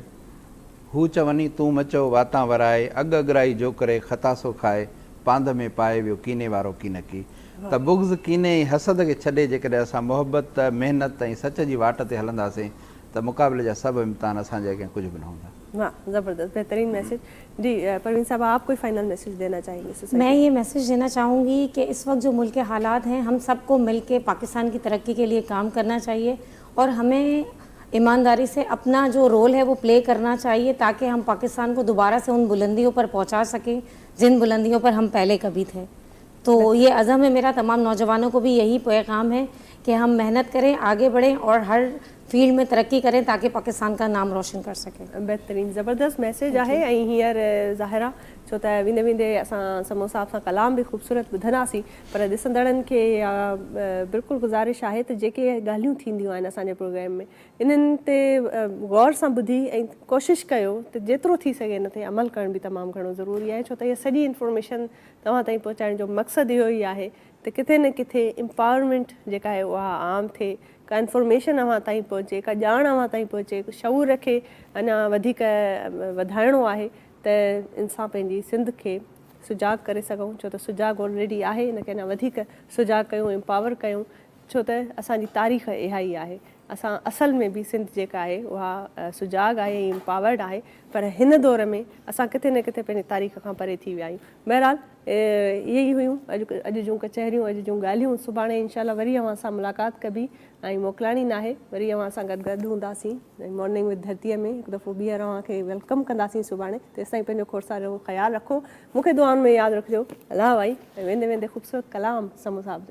هو چوني تون مچئو واتان ورائي، اڳ اڳرائي جوڪري خطاسو کائي، پانڌ ۾ پائي ويو ڪيني وارو ڪينڪي. ته بغض، ڪيني ۽ حسد کي ڇڏي جيڪڏهن اسان محبت، محنت ۽ سچ جي واٽ تي هلنداسين ته مقابلي جا سڀ امتحان اسان جي اڳيان ڪجهه به نه هوندا. واھ زبردست بهترين ميسيج جي پروين صاحب آپ ڪوئي فائنل ميسيج دينا چاهين گي سوسائٽي مين يي ميسيج دينا چاهون گي ڪي اس وقت جو ملڪ ڪي حالات هين هم سب ڪو مل ڪي پاڪستان ڪي ترقي ڪي ليي ڪام ڪرنا چاهيي اور ھمين ايمانداري سي اپنا جو رول ھي وو پلي ڪرنا چاھيي تاڪي ھم پاڪستان ڪو دوباره سي ان بلنديو پر پھونچا سڪي جن بلنديو پر ھم پھلي ڪبي تھي تو يي عزم ھي ميرا تمام نوجوانو ڪو بي يھي پيغام ھي ڪي ھم محنت ڪرين آگي بڙھين اور ھر فيلڊ مين ترقي ڪرين تاڪي پاڪستان ڪا نام روشن ڪر سڪين. بهترين زبردست ميسيج آهي ۽ هينئر ظاهر آ ڇو ته ويندي ويندي اسان سمون صاحب سان ڪلام به خوبصورت ٻڌنداسين پر ڏسندڙن کي اها بلڪل گذارش آهي ته جيڪي ڳالهيون ٿينديون آهن اسان جي پروگرام ۾ انهن تي غور سان ٻڌي ۽ ڪوشش ڪيو ته جيترو ٿي سگهي ان تي عمل ڪرڻ به تمام گهڻو ضروري آهي ڇو ته اها سڄي انفارميشن توهان تائين پهچائڻ جو مقصد اهو ئي آهي ته ڪٿي نه ڪٿي امپاورمينٽ جيڪا آهي اها عام ٿئي ڪا انفارميشن اوهان تائين پهچي ڪا ڄاڻ اوهان تائين پهچي شعور کي اڃا وڌيڪ وڌائڻو آهي ته انسان پنهنجي سنڌ کي سجاڳ ڪري سگهون ڇو ته سجاڳ آلريڊي آهي ان کي اڃا وڌيڪ سجاڳ ڪيون امپاور ڪيون ڇو ته اسان جي تاريخ اها ئي آهي اسان اصل ۾ به سنڌ جيڪا آهي اها سجاڳ آهي ۽ امپاورڊ آهي پر هن دور ۾ اسان ڪٿي نه ڪٿي پنهنجي تاريخ کان پري ٿي ويا آهيون بهرحال اهي ئي هيون اڄ جون ڪچهريون اڄ جون ڳالهيون سڀاڻي انشاء الله وري اوهان سان ملاقات ڪبي ۽ موڪلاڻي ناهي وري اوهان سان گڏ گڏ هونداسين. مارننگ وٿ ڌرتيء ۾ هڪ دفعو ٻيهر اوهان کي ويلڪم ڪنداسين سڀاڻي تيستائين پنهنجو کوڙسارو خيال رکو مون کي دعائن ۾ ياد رکجو الله وائي ۽ ويندي ويندي خوبصورت ڪلام سمون صاحب جو.